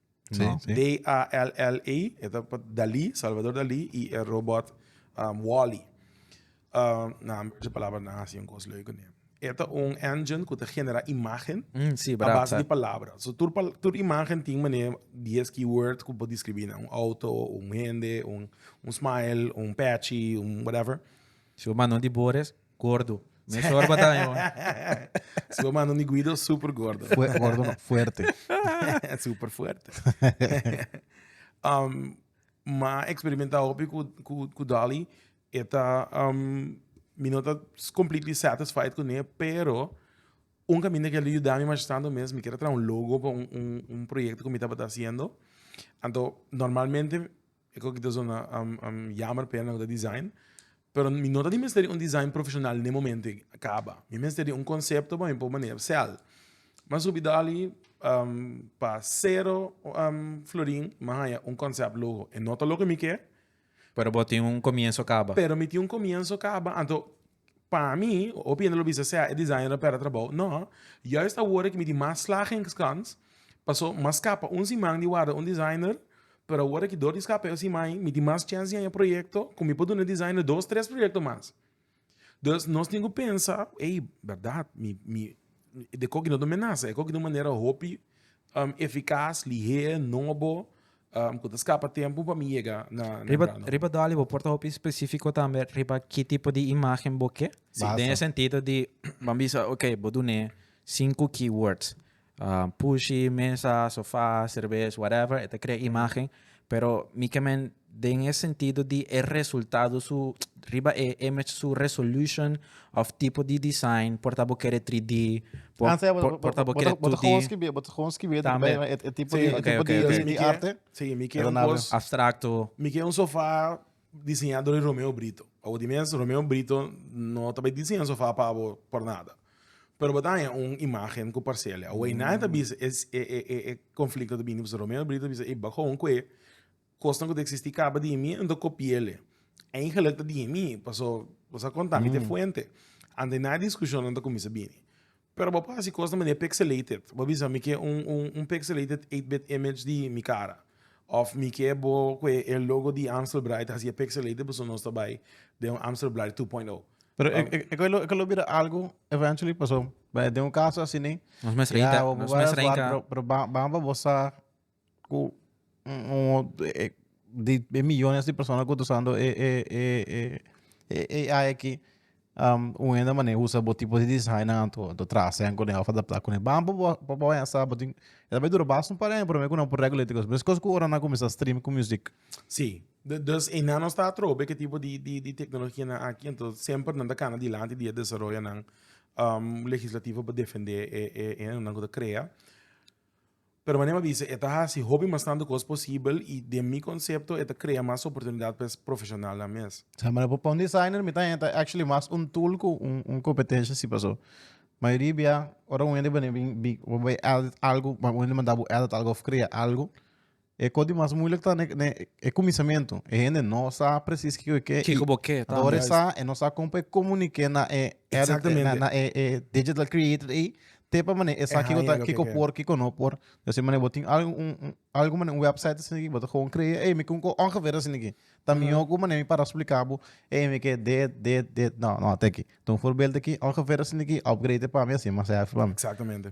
Speaker 1: Sí, No. sí. D-A-L-L-E, e ta pa Dalí, Salvador Dalí, i e robot um, Wall-E. Um, na han berse palabra na hasi un kos leuke neem. E ta un engine ku ta genera imagen Mm, sí, a brap, base di brap. palabra. So tur, pal- tur imagen tin meneer 10 keyword ku por describí na un auto, un hende, un, un smile, un patchy, un whatever. Si bo manda un di Boris, Gordo. Mes or bata mi mama. Su mama no ni Guido, super gordo. Fue, gordo no, fuerte. super fuerte. um, ma experimenta hopi ku, ku, ku Dolly. Eta, um, mi no ta completely satisfied ku ne, pero un caminda que ele ayudami mas tanto mes, mi kere tra un logo pa un, un, un proyecto ku mi tabata haciendo. Anto, normalmente E kos ki ta zona yamer pa yanan ta design, pero mi no ta di mester di un design profesional den e momento ei caba, mi mester di un concepto pa mi por manera cel, mi a subi dali pa cero florin mi a haya un concept logo, e no ta loke mi ke, Pero bo tin un comienzo caba. pero mi tin un comienzo caba anto. Pa mi, hopi hende lo bisa sea e designer a perde trabou. No, juist awor cu mi tin mas slagen in Xcans, paso mas scapa un siman di warda un designer, pero awor cu door di scapa e siman, mi tin mas chance di haya proyecto cu mi por duna e designer dos, tres proyecto mas. Dus nos tin cu pensa, ey, berdad, mi, mi, e coki no ta menasa, e coki ta un manera hopi eficas, lihehe, nobo. um, cu ta scapa tempo pa mi llega na, na riba, Brano. Riba Dolly, bo porta hopi specifico tambe riba ki tipo di imagen bo ke? Si, den e sentido di, ban bisa, ok, bo dune cinco keywords. Uh, pushy, mesa, sofá, cerveza, whatever, e ta crea imagen. Pero mi ke men den e sentido di e resultado su, riba e image su resolution, Of tipo di design, por ta bo kere 3D, por Ah, sea, bo, por, bo, por ta bo bo, bo, kere bo, bo, 2D. gewoon skibie, bo gewoon skibie, Tambe. e, e, e tipo Sí, di, e oké, tipo oké, di, oké. di, Mi di ke- arte. Sí, mi ke Pero un nada. kos. Abstracto. Mi ke un sofá diseñá dor di Romeo Brito. Pa bo di mes, Romeo Brito no ta bay diseña un sofá pa bo por nada. Pero bo ta haña un imagen cu parcele. Awey nadie ta bisa e, e, e, e, e conflicto ta bini pasobra Romeo Brito ta bisa, ey, bak gewoon cu e. Kosnan ku ta eksistí kaba di mi, N ta kopi'el'e. Eigenlik ta di mi, pasó bo sa konta mi t'e fuente. Ante na diskushonnan ta kuminsá bini. Pero bo por hasi kos na manera pixelated. Bo a bisa, mi ke un, un, un pixelated eight bit image di mi kara. Òf mi ke bo ku e, e logo di Amstel Bright hasié pixelated pasobra nos ta bai den un Amstel Bright two point o. Pero e, e, e ku e lo, e ku e lo bira algu eventually, pasó, bai den un kaso asini, Nos mes ya, reinta, bo nos mes bai a swat, reinta. pero, pero ban, ban pa bo sa. ku di e miyones di persona ku ta usando e e e e ai aki un hende a mane usa bo tipo di desainnan anto anto trasen kune of adapta kune bam pa bo pa bo haya sa bo tin e ta bai dura basta un par de aña promé ku nan por regla e kos mes kos ku ora nan kuminsha stream ku music. Sí de dus eynan nos ta atrobe ke tipo di di di teknologianan aki anto semper nan ta kana dilanti di e desaroyonan legislativo pa defende e e eynan ku ta krea Pero manera mi a bisa e ta hasi hopi bastante cos posibel y den mi concepto e ta crea mas oportunidad pa e profesionalnan mes. Sa manera pa un designer mi ta hen ta actually mas un tool cu un competencia si paso mayoria bia ora un hende bini bin bin bo bay edit algo bo manda bo edit algo of crea algo E kos di mas muilik ta na e kuminsamentu. E hende no sa presis kiko e ke. Kiko bo ke tambe. Dor e sa, e no sa kon pa e komunik'é na e Exactamente. na e digital created ei te pa manera e sa kiko ta kiko por kiko no por. Di asina manera bo tin algu un un algu manera un website asina aki bo ta gewoon krea ei mi kum ko ongever asina aki. Ta mihó ku manera mi para splika bo ei mi ke dit dit dit no no te aki. Tuma un forbeeld'e aki ongever asina aki upgrade e pa mi a ser mas hefi pa mi. Exactamente.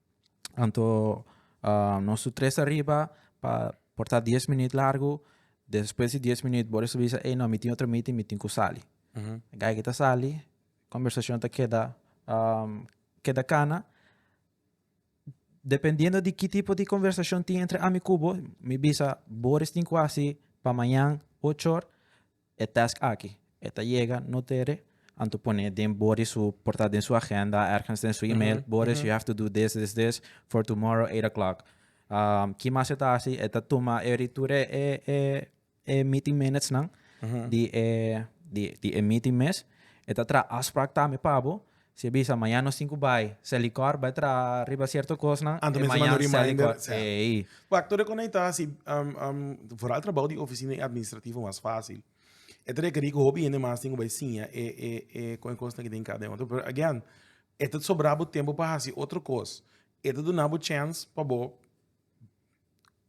Speaker 1: Anto nos tur tres ariba pa por ta dies minüt largu. Despues di dies minüt bo recibi sa ey no mi tin otro meeting mi tin cu sali. Geiger ta sali, conversacion ta keda keda cana. Dependiendo di ki tipo di conversacion tin entre ami cu bo, mi bisa, Boris tin cu hasi pa mañan ocho or. E task aki, e ta yega no tere, anto pone den Body su, por ta den su agenda ergens den su email, Boris you have to do this, this, this for tomorrow eight o'clock. Ki mas e ta hasi, e ta tuma every tur e e meeting minutes nan di e di di e meeting mes, e ta traha afsprak tambe pa bo Si e bisa mañan nos tin cu bay Sally Carr bay traha riba cierto cosnan Anto mester manda un reminder e mañan Sally Carr ey. Wak todo e con ayta si foral trabaho di oficina y administrativo mas facil e ta requeri cu hopi hende mas tin cu bay siña e e e con e cosnan cu tin cada uno pero again e ta sobra bo tempo pa haci otro cos e ta duna bo chance pa bo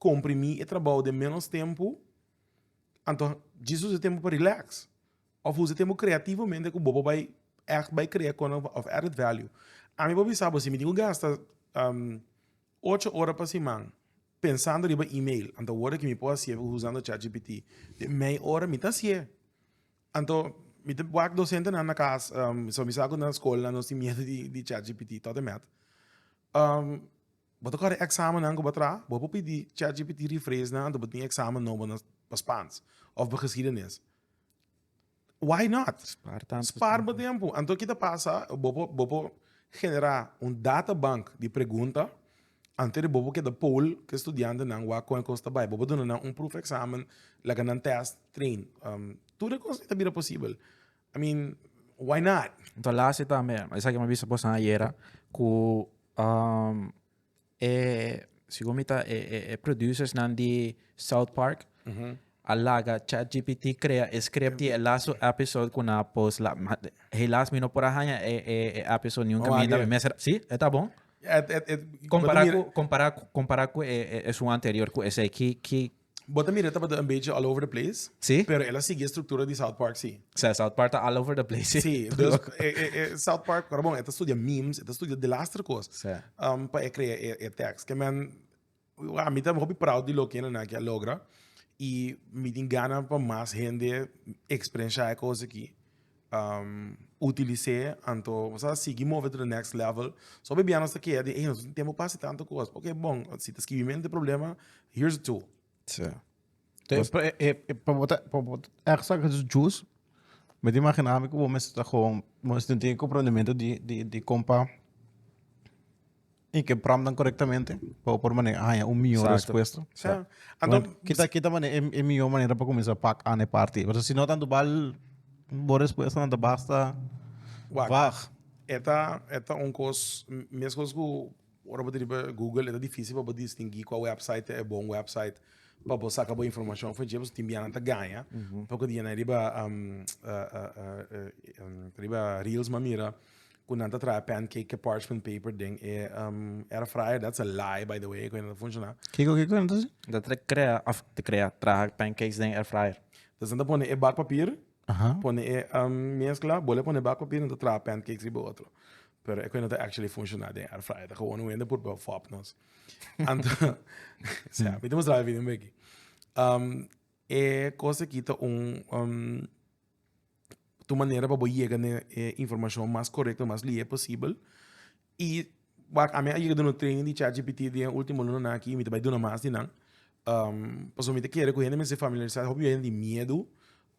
Speaker 1: comprimi e trabaho den menos tempo anto Jesus e tempo pa relax. Of who's e tempo creativomente cu bo por bay echt bay crea con of added value. Ami por bisa bo si mi tin cu gasta ocho ora pa siman pensando riba email anto awor mi por haci'e usando chat gpt den mey ora mi ta haci'e anto mi ta wak docente nan na cas mi sa cu na school nan nos tin miedo di chat gpt tot e met bo ta corre examen nan cu bo a traha bo por pidi chat gpt rephrase nan anto bo tin examen nobo na pa spans of pa geschiedenis. Why not? Spaar tanto Spaar bo tempo. Anto kita pasa, bopo, bopo genera un data bank di pregunta ante de bopo keda poll ke studiante nan wa kon e kos ta bai. Bopo duna nan un proef examen, laga nan test, train. Um, tur e kos ta bira posibel. I mean, why not? Entonces, laatste tambe, esaki me bisa bosan ayera, ku um, E segun mi ta e e producers nan di South Park a laga ChatGPT crea e script di e laatste episode cu nan a post la ma helaas mi no por a haña e e e episode nunca Vamos a mienta mi hacer. mester si e ta bon Et, et, et, Compara cu compara cu compara cu e e esun anterior cu esey ki ki Bo ta mira e tabata un bechi all over the place. Sí. Pero el a sigui e structura di South Park si. Sea, South Park ta all over the place. Sí, dus e, e, e South Park, pero bon, e ta studia memes, e ta studia delastre cos. Sí. Um, pa e crea e, e tekst. Que men, a mi ta hopi proud di loke na naki a logra. Y mi tin gana pa mas hende experiencia e cos aki. utilis'é anto nos a sigui move to de next level so biabian nos ta keda di ey nos tin tempo pa hasi tanto cos ok bon si ta skibi mente problema here is a tool. pa bo ta echt sa cos djus mi ta imagina mi cu bo mester ta gowon bo mester tin comprendimento di compa Y ke promptnan corectamente pa bo por mane haña un mihor Exacto. respuesta. Ja. Anto, Bueno, kita, kita mane e, e mihor manera pa comenzar pak ane parti. Pero si no tanto bal, bo respuesta tanto basta Wacht. vag. eta, eta un kos, m- mes kos ku ora bo ta riba Google, eta difícil pa bo distingui kua website ta e bon website pa bo saka bo informashon fu dje, pasobra tin bianan ta gaña, paku dje nan riba, am, ah, ah, ah, eh, em, riba reels m'a mira, cu nan ta traha pancake ke parchment paper den e um, air fryer. That's a lie, by the way, cu nan ta funciona. Kiko, kiko, nan ta si? Dat te crea, of te crea, traha pancakes den air fryer. Dus nan ta pone e bakpapier, Aha. pone e um, mezcla, bole pone bakpapier, nan ta traha pancakes riba otro. Pero e cu nan ta actually funciona den air fryer. Ta gewoon un wende pur pa fop nos. Anto, sea, mi te mostraba video un beki. Um, e cosa ki ta un, um, tu manera pa bo yega na e informashon mas korekto i mas lihe posibel. I wak ami a yega duna un training di chatgpt den e ultimo lunanan aki i mi ta bai duna mas di nan. Um pasobra mi ta kere ku hende mester familiarisá hopi hende di miedu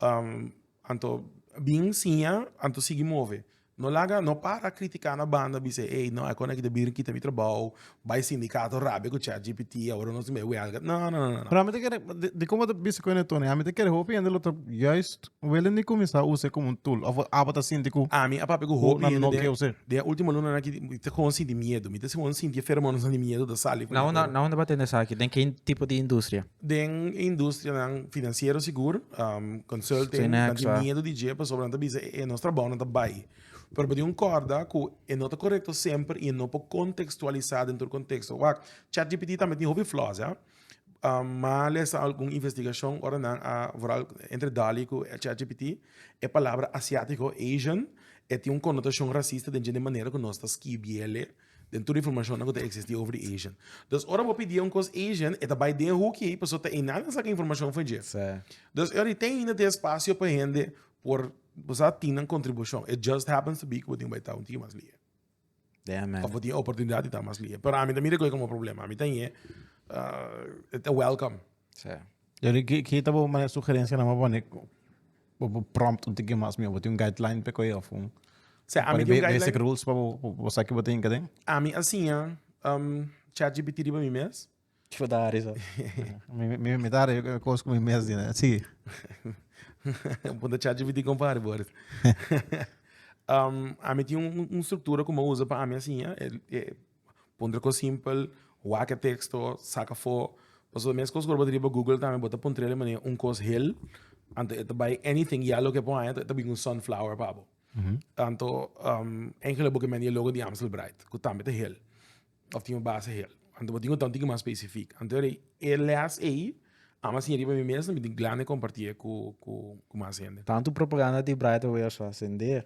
Speaker 1: um anto bin siña anto sigui move. No laga no para critica na banda bisa ey no aykon aki ta bira kita mi trabao bay sindicato rabia cu chat gpt awor nos mey huelga no no no no. Pero ami ta kere di como ta bisa cu ene Tony ami ta kere hopi hende lo ta juist wele ni cuminsa usa como un tool of abo ta sinti cu Ami a papia cu hopi hende no quier usa. den e ultimo lunanan aki mi ta gewoon sinti miedo mi ta gewoon sinti e feromonas nan di miedo ta sali. Na hunda na hunda bo a tende esaki den kin tipo di industria? Den e industrianan financiero sigur, um, consulting, Steen nan Heksa. tin miedo di dje, pasobra nan ta bisa e, e nos trabao nan ta bai. Pero pa di un corda cu e no ta correcto semper y e no por contextualisa den tur contexto. Wak, ChatGPT tambe tin hopi flaws, ja. Um, ma lesa algun investigacion ora nan a, vooral entre DALL-E cu ChatGPT, e palabra Asiatico, Asian, e tin un connotacion racista den dje den manera cu nos ta skibiele. Den tur di informashonnan ku ta eksistí over di Asian. Dus ora bo pidié un kos Asian, e ta bai den e hoekje ei pasobra ta einan nan saka informashon for dje. Sè. Dus e ora ei ten ainda te espasio pa hende por, bo sa, tin nan kontribushon. It just happens to be ku bo tin ku bai ta un tikit mas lihe. Damn man. Òf bo tin e oportunidat di ta mas lihe. Pero ami ta mira ku ei komo un problema. Ami ta ñe, e ta wèlkòm. Sè. Jerry, ki ki ta bo mane sugerencia na mabone bo bo prompt un tiki mas mi bo tin un guideline pe koe of un Se a mi tin guideline basic rules pa bo bo sa ki bo tin kaden. A mi a siña um ChatGPT riba mi mes. Ki bo ta hari so? mi mi mi ta hari cos ku mi mes di na si. Punta ChatGPT kon pa hari bo aris. um a mi tin un un struktura ku mi usa pa a mi a siña e e Puntra cos simpel, wak e texto, saca fo. Pasobra mes cos cu ora bo ta riba google tambe bo ta puntra el manera un cos hel, anto e ta bay anything y ya loke e por haya e ta bin un sunflower pa bo. Tanto engeloi bo ke mende e logo di Amstel Bright cu tambe ta hel of tin un base hel. Anto bo tin cu ta un tiki mas specific. Anto e les ey a'm a siña riba mi mes na mi tin glande comparti cu mas hende. Tanto propaganda di Bright awe a sor a sende.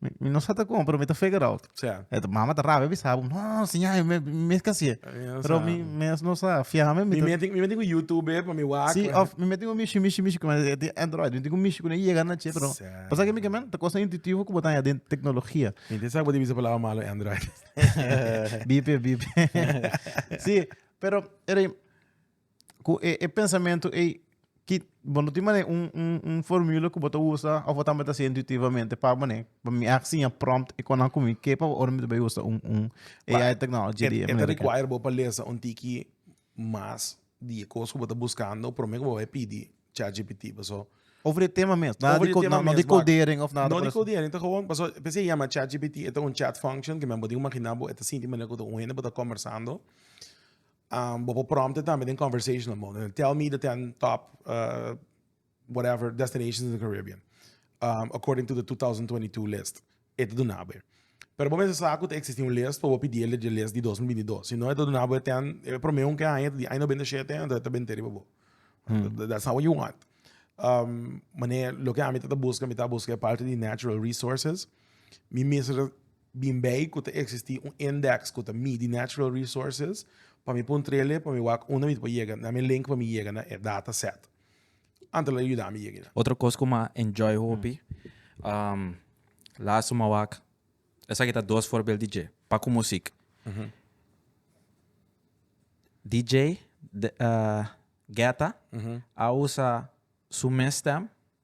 Speaker 1: Mi, mi no sa ta como, pero mi ta figure out. Sea. Et mama ta rabia bisa bo, no, siña, mi, mi es casi. Pero mi, mi es no sa, fiame. Mi me mi me tengo YouTube, pa mi wak. Sí, of mi me tengo mishi, mishi, mishi, como de Android. Mi tengo mishi, como llega na che, pero. Pasa que mi que men, ta cosa intuitivo como tan ya de tecnología. Mi te sa bo divisa palabra malo Android. bipe, bipe. sí, pero, ere, ku e e pensamentu ei ki bo no tin manera un un un formula ku bo ta usa of bo tambe ta hasiu intuitivamente pa manera pa mi a hasi ña prompt e konan ku mi ke pa ora mi ta bai usa un un AI technology di e manera ta require bo pa lesa un tiki mas di e kos ku bo ta buskando promé ku bo bai pidi chat gpt paso over e tema mes nada di no di codering of nada por eso ta gewoon paso p'esei yama chat gpt e ta un chat function ku bo tin ku imagina bo e ta sinti manera ku ta un hende bo ta kombersando. Um, bo por prompte tambe den conversational mode. Tell me the 10 top uh, whatever destinations in the Caribbean um, according to the 2022 list. Eto do nabo. Pero bo mesa sa kut existi un list, bo pidi el de list di 2022. Si no, eto do nabo ten, e prome un ke aña, di aña 97, ento eto ben teriba bo. Hmm. That's not what you want. Um, mane, lo ke a mi tata busca, mi tata busca parte di natural resources. Mi mesa Bin bay cu ta existi un index cu ta midi natural resources, pa mi pun trele pa mi wak unda mi ta por yega, na mi link pa mi yega na e data set. Anto lo yuda mi yega ayinan. Otro cos cu m'a enjoy hopi, laatsto m'a wak, esaki ta dos voorbeeld di dje, pa cu music. DJ Getta a usa su mes stem.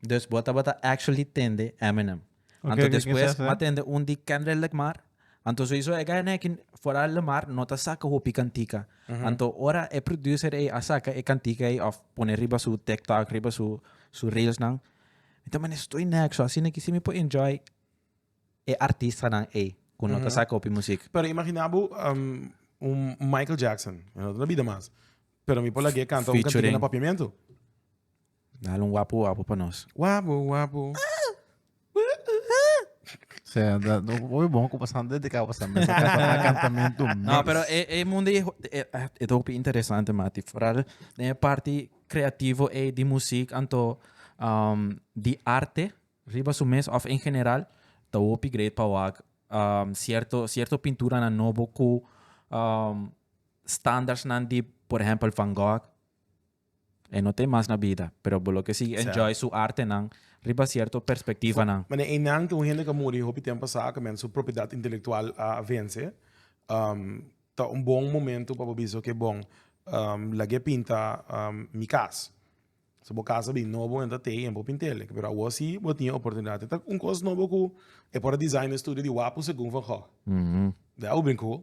Speaker 1: Dus bo tabata actually tende Eminem. Oké, Anto ke despues kisa sa? m'a tende un di Kendrick Lamar. Anto souiso e guy neki fora Lamar no ta saka hopi kantica. Anto ora e producer ey a saka e kantica ey of pone riba su TikTok, riba su su reelsnan, mi ta mane stoy neak. So asina ki si mi por enjoy e artistanan ey cu no ta saka hopi music. Pero imagina bo um, un Michael Jackson, e no ta na bida mas, pero mi por lag'é canta un kantica Featuring. na Papiamento. Dale un wapu wapu pa nos. Wapu wapu. Sí, da, no, muy bon como están dedicados a mesa para cantamiento. No, pero e, e mundo e, e, e topi interesante, mati. Vooral de parte creativo e di muziek, anto um, di arte, riba su mes, of in general, ta hopi great pa wak um, cierto, cierto pintura na nobo ku um, standards nan di, por ejemplo, Van Gogh, E no t'e mas na bida, pero bo lo ke sigui enjoy su artenan riba sierto perspektivanan. Mane einan tin un hende ka muri hopi tempo sa ke men su propiedat intelektual a vense. Ta un bon momento pa bo bisa oke bon lag'e pinta mi kas. So bo kas ta bin nobo en ta tei en bo pint'el pero awor si bo tin e oportunidat. E ta un kos nobo ku e por a design e studio di Wapu segun van Gogh. Dah a ubrin ku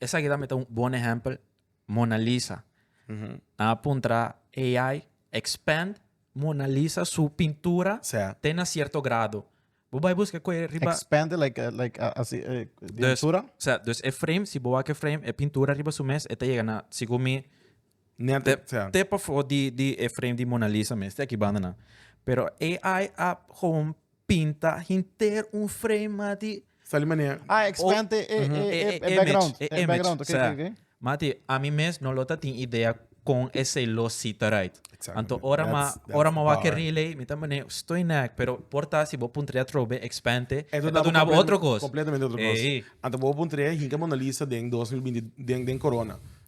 Speaker 1: Esaki tambe ta un bon ehèmpel. Mona Lisa. Nan a puntra AI, expand Mona Lisa su pintura te na sierto grado. Bo bai buska ku e riba. Expand like like asi e di altura? Sa, dus e frame, si bo wak e frame, e pintura riba su mes e ta yega na, segun mi. Net, te, yeah. te pa for di, di e frame di Mona Lisa mes, te ki banda na. Pero AI a gewoon pinta hinter un frame, mati. Sali manier. Ah, expand e, e, e, e, e, e background. E, e background, oké, okay, okay. Mati, a mi mes no lota tin idea con ese lo cita right. Exactly. Anto ora that's, ma that's ora ma wa ke relay, mi ta mane stoi nek, pero porta si bo puntre trobe expande, e do na bo otro kos. Completamente otro kos. Anto bo puntre hinka Mona Lisa den 2020 den den corona.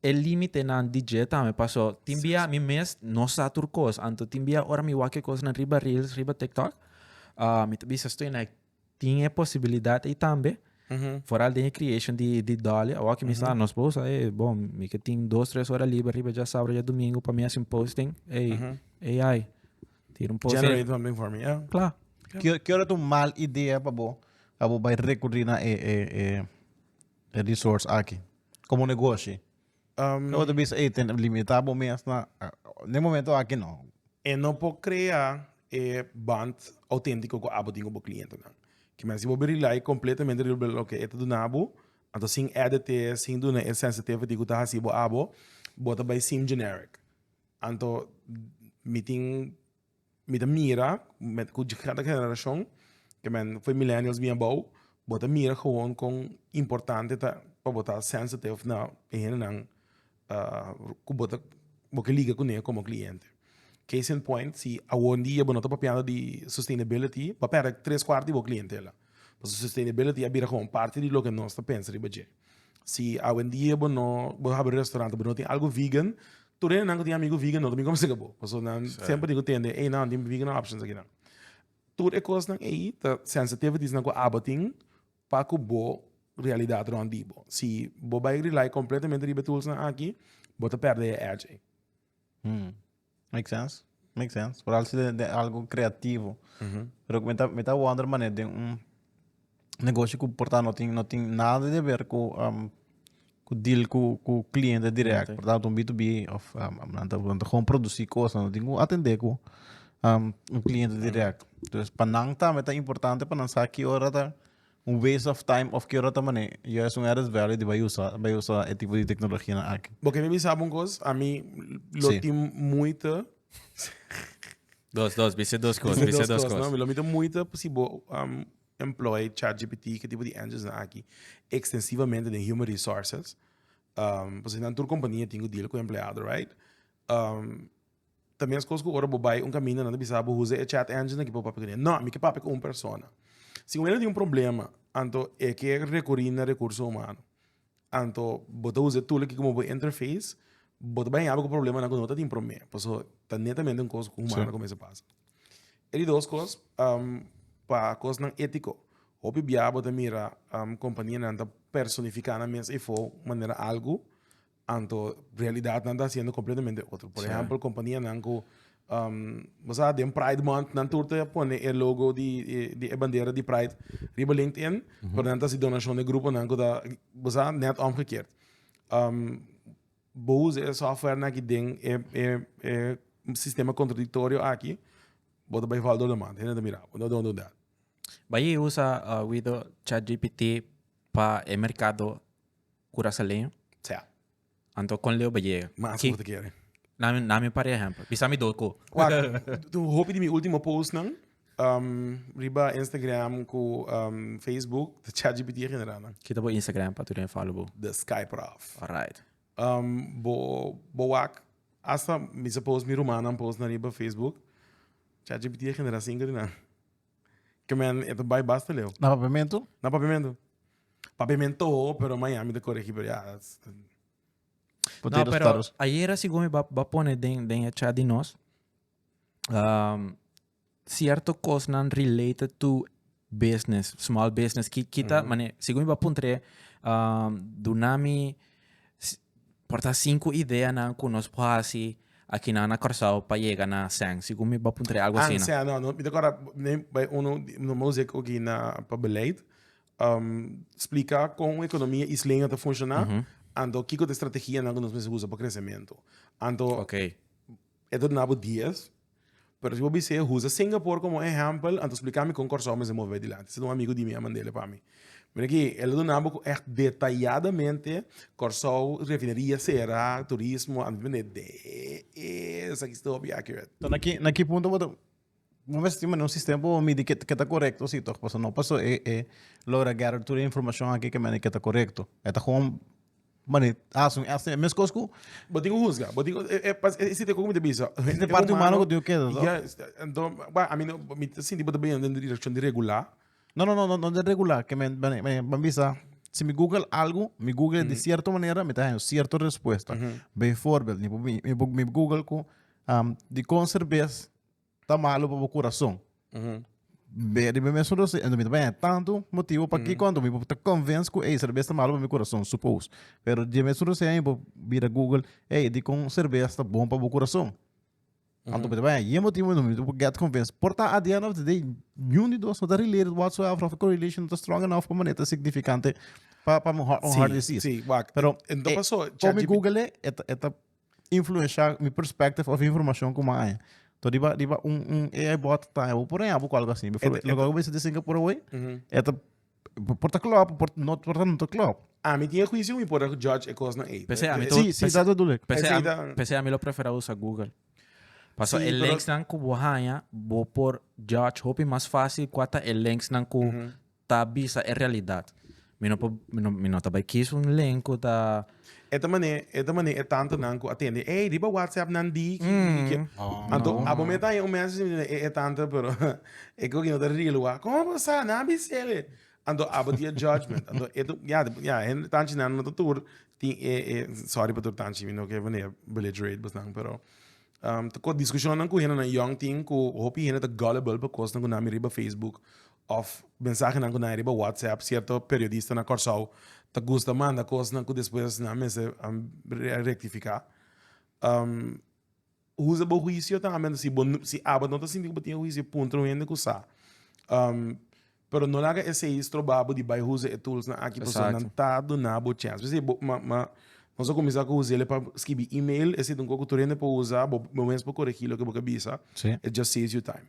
Speaker 1: E límitenan di dje tambe, paso tin bia mi mes no sa tur kos. Anto tin bia ora mi wak e kosnan riba reels, riba tiktok, mi ta bisa estoy na e tin e posibilidat ei tambe. Foral den e creation di di Dolly, awor ku mi sa nos por usa ei, bo mi ke tin dos, tres ora liber riba dja sabado, dja domingo pa mi hasi un posting, ei AI tira un post ei. Generate something for me, yeah. Kla. Ki ora ta un mal idea pa bo pa bo bai rekurrí na e. e resource aki como negoshi lo bo ta bisa ey tene limita bo mes na den momento aki no. E no por crea e bond autentico cu abo tin cu bo clientenan. Ki men si bo bai rely completamente riba lo que e ta duna abo anto sin add te sin duna e sensitivity cu ta haci bo abo bo ta bai sim generic anto mi tin Mi ta mira met cu cada generacion ke men fue millennials bien abao bo ta mira gewoon con importante ta pa bo ta sensitive na e hendenan cu bo ta bo ke liga cune como cliente. Case in point si awondia bo no ta papiando di sustainability bo a perde tres cuart di bo clientela pasobra sustainability a bira como parte di loke nos ta pensa riba dje. Si awendia bo no bo haber restaurante bo no tin algo vegan tur hende nan ku tin amigu vegan no ta bin kobra sega bo paso nan semper tin ku tende ey nan tin vegan options akinan tur e kosnan ey ta sensitivities nan ku aba tin pa ku bo realidad rònt di bo si bo bai rely completamente riba e tools nan aki bo ta perde e edge ey. Hm make sense make sense por alsi den algo creativo pero me ta me ta wonder manera den un negoshi ku por ta no tin no tin nada de haber ku ku deal ku ku kliente direkt por tanto un b to b of nan ta nan ta gou produci kosa no tin ku atende ku un kliente direkt entonces pa nan tambe ta importante pa nan sa ki ora ta. Un waste of time of ke ora ta manera, yo es un added value di bai usa, bai usa e tipo di tecnologianan aki. Bo ke mi bisa un kos, ami lo Sí. tin muita, Dos, dos, bisa dos cos, bisa bisa dos dos cos, no? cos. Mi lo tin muita si bo um, employ ChatGPT, ke tipo di engines aki, extensivamente den human resources, um, pasobra nan tur compania tin cu deal cu empleado, right? Um, Ta meskos ku ora bo bai un kaminda nan ta bisa bo huza e chat engine aki pa bo papia ku nan. No, mi ke papia ku un persona. Si bo mira ku nan tin un problema, anto e ke rekuri na rekurso humano. Anto bo ta usa e tool aki komo bo interface, bo ta bai yabi ku e problemanan ku no ta tin promé. Paso, ta netamente un kos ku humano ta kuminsha pasa. E di dos kos, pa kosnan étiko. Hopi bia bo ta mira kompanianan ta personifiká nan mes efo manera algu Anto realidadnan ta siendo completamente otro. Por ejemplo, companianan cu um, bo sa, den Pride Month, nan tur ta pone e logo di, e, di e bandera di Pride riba LinkedIn, mm -hmm. pero nan ta si donacion de grupo nan cu ta, bo sa, net omgekeerd. Um, bo usa e software na ki den e, e, e sistema contradictorio aki, bo ta bai valdo de man, hende ta mira, no don't do that. Bai usa, uh, Wido, ChatGPT pa e mercado Curasaleño? Sea. Anto con Leo Beyega. Mas Ki- te quiere. Na, na mi par ejemplo. Bisa mi do ko. Wak, tu hopi di mi último post nan, um, riba Instagram ku um, Facebook, de ChatGPT a generá nan. Kita bo Instagram pa tu den follow bo. De Skyprof. Alright. Um, bo, bo wak, hasta mi se post mi rumanan post nan riba Facebook, ChatGPT a generá cinco di nan. Ke men e ta bai basta leu. Na Papiamentu? Na Papiamentu. Papiamentu, pero Miami ta koregí, pero ya. No, pero ayera segun mi ba pone den, den e chat di nos, um, cierto cosnan related to business, small business, ki, ki ta, mm. mane, segun mi ba puntre, um, duna mi. Por ta sinku ideanan ku nos por hasi akinan na Kòrsou pa yega na Ancian. Sigur mi bo puntra e algu asina. Ancian, no, no. Mi ta kòrda den bai unu no mosek oki na pa beleid. Splika kon un ekonomia isleño ta funshoná, anto kiko ta e strategianan ku nos mester usa pa kresementu. Anto e ta duna bo dies, Pero si bo bis'é huza Singapore como ehempel, anto splica mi con Corsou mester move dilanti. Esaki ta un amigo di mi a mand'ele pa mi. Mira aki, el a duna bo cu echt detayadamente Corsou refineria cera, turismo, anto bo bende dee esaki sta hopi aki wet. Enton na ki na ki punto bo ta bo mester tin mane un sistema pa bo midi ke ke ta corecto si toch pasobra no paso e e logra gather tur e informacion aki ke mane ke ta corecto e ta gewoon. Manera ta haci un estimate. Mescos cu bo tin cu huzga. Bo tin cu, e, e, pas, e, e sitio cu mi ta bisa. Hende E parti humano cu tin cu keda, so. Ya, esta, anto, ba, ami no, mi ta sinti bo ta bini den e direccion di regulá. No, no, no, no, no den regulá. Ke men, men, men, ban bisa, si mi google algu, mi google e di cierto manera, mi ta haña un cierto respuesta. Beivoorbeeld, mi por, mi por google cu, dicon cerbes ta malu pa bo kurason. Be, riba mes rosi, en mi ta baña tanto motivo pa ki kon mi bo ta convince ku ei serbes ta malu pa mi kurason, suppose. Pero riba mes rosi mi bo bira Google, ei, di kon serbes ta bon pa bo kurason. Anto mi ta baña yen motivo mi bo get convinced. Por ta at the end of the day, niun di dos no ta related whatsoever of correlation no ta strong enough pa manera ta significante pa un heart disease. Pero kon mi Google e ta influensha mi perspective of informashon ku mi a haña. To riba riba un un AI bot ta haña bo por haña bo ku algu asin. Befo loke ku bisita di Singapore away e ta por ta klop por no por ta no ta klop. Ami tin e huisio mi por ta judge e kosnan ey. P'esei ami ta Sí, sí, dat bedoel ek. P'esei P'esei ami ta- p'esei ami lo prefera usa Google. Paso Sí, e pero- linksnan ku bo haña bo por judge hopi mas fácil kua ta e linksnan ku ta bisa e realidad. Mi no por mi no ta bai kies un link ku ta. E ta manera e ta manera e tantenan ku a tende ey riba whatsapp nan di ki ki ki anto abo me ta haña un message mi e e tante pero e koki no ta real wak kon bo sa nan a bisel'e anto abo di e judgement anto e tu ya ya hende tanchi nan no ta tur tin e e sorry pa tur tanchi mi no ke manera belligerate bo nan pero ta ko diskushonnan ku hendenan yòngtin ku hopi hende ta gullible pa kosnan ku nan mira riba facebook Of mensahenan ku nae riba WhatsApp, sierto periodista na Kòrsou ta gusta manda kosnan ku despues nan mester rektifiká. Huza bo huisio ta Abed? Si bo si Abed no ta sinti ku bo tin e huisio puntra un hende ku sa. Pero no laga esei stroba bo di bai huza e toolsnan aki pasobra nan ta duna bo chèns. P'esei bo ma ma nos a kuminsá ku us'el pa skibi email, esei ta un kos ku tur hende por usa, bo mes por korigí loke bo ta bisa, it just saves you time.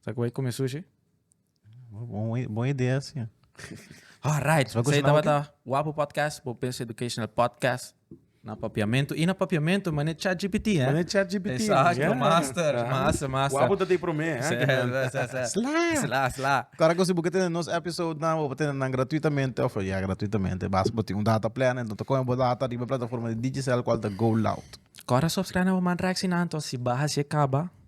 Speaker 1: Sa cu bay come sushi? Bon idea si. Alright, sa e tabata Wapo Podcast, Bo Business Educational Podcast. Na papiamento y na papiamento mane ChatGPT, eh. Mane ChatGPT. Exacto, master, master, master. Wapo ta di prome, eh. Sla. Sla, sla. Cara cu si bo tene nos episode nan, bo tene nan gratuitamente, of ya gratuitamente. Bas bo tin un data plan, enton ta coge bo data riba plataforma di Digicel cual ta GoLoud. Cora subscribe na bo man reaccionando si baha si e caba.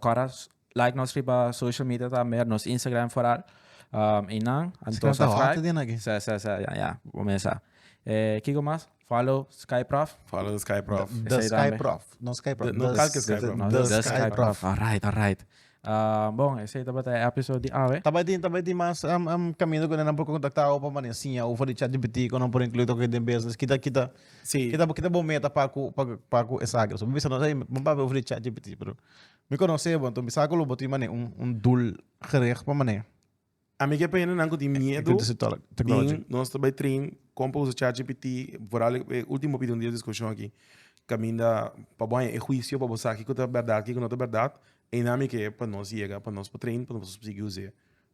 Speaker 1: Kòrda like nos riba social media tambe nos Instagram foral einan anto subscribe sa sa sa ya ya bo mesa e kiko mas follow sky prof follow the sky prof the sky prof no sky prof no kalke sky prof the sky prof alright alright bon esei tabata e episode di awe tabata tabata tin mas kaminda ku nan por kontakta awe pa mane siña ufo di chatgpt ku nan por inkluí den business kita kita. Sí. Kita kita bo meta pa ku pa ku- pa ku esagro. So mi bisa no hey, mi pa bo fri ChatGPT, pero mi konosé bo, entonces mi sa ku lo bo tin mané un un doel gericht pa mané. A mi ke pende nan ku tin miedo. Into this tolo- technology. Tin, nos ta bay train kon pa usa ChatGPT, vooral e último opinion di e diskushon aki. Kaminda pa bo haña e huisio, pa bo sa kiko ta bèrdat, kiko no ta bèrdat, einan mi ke pa nos yega, pa nos po train, pa nos sigui us'é.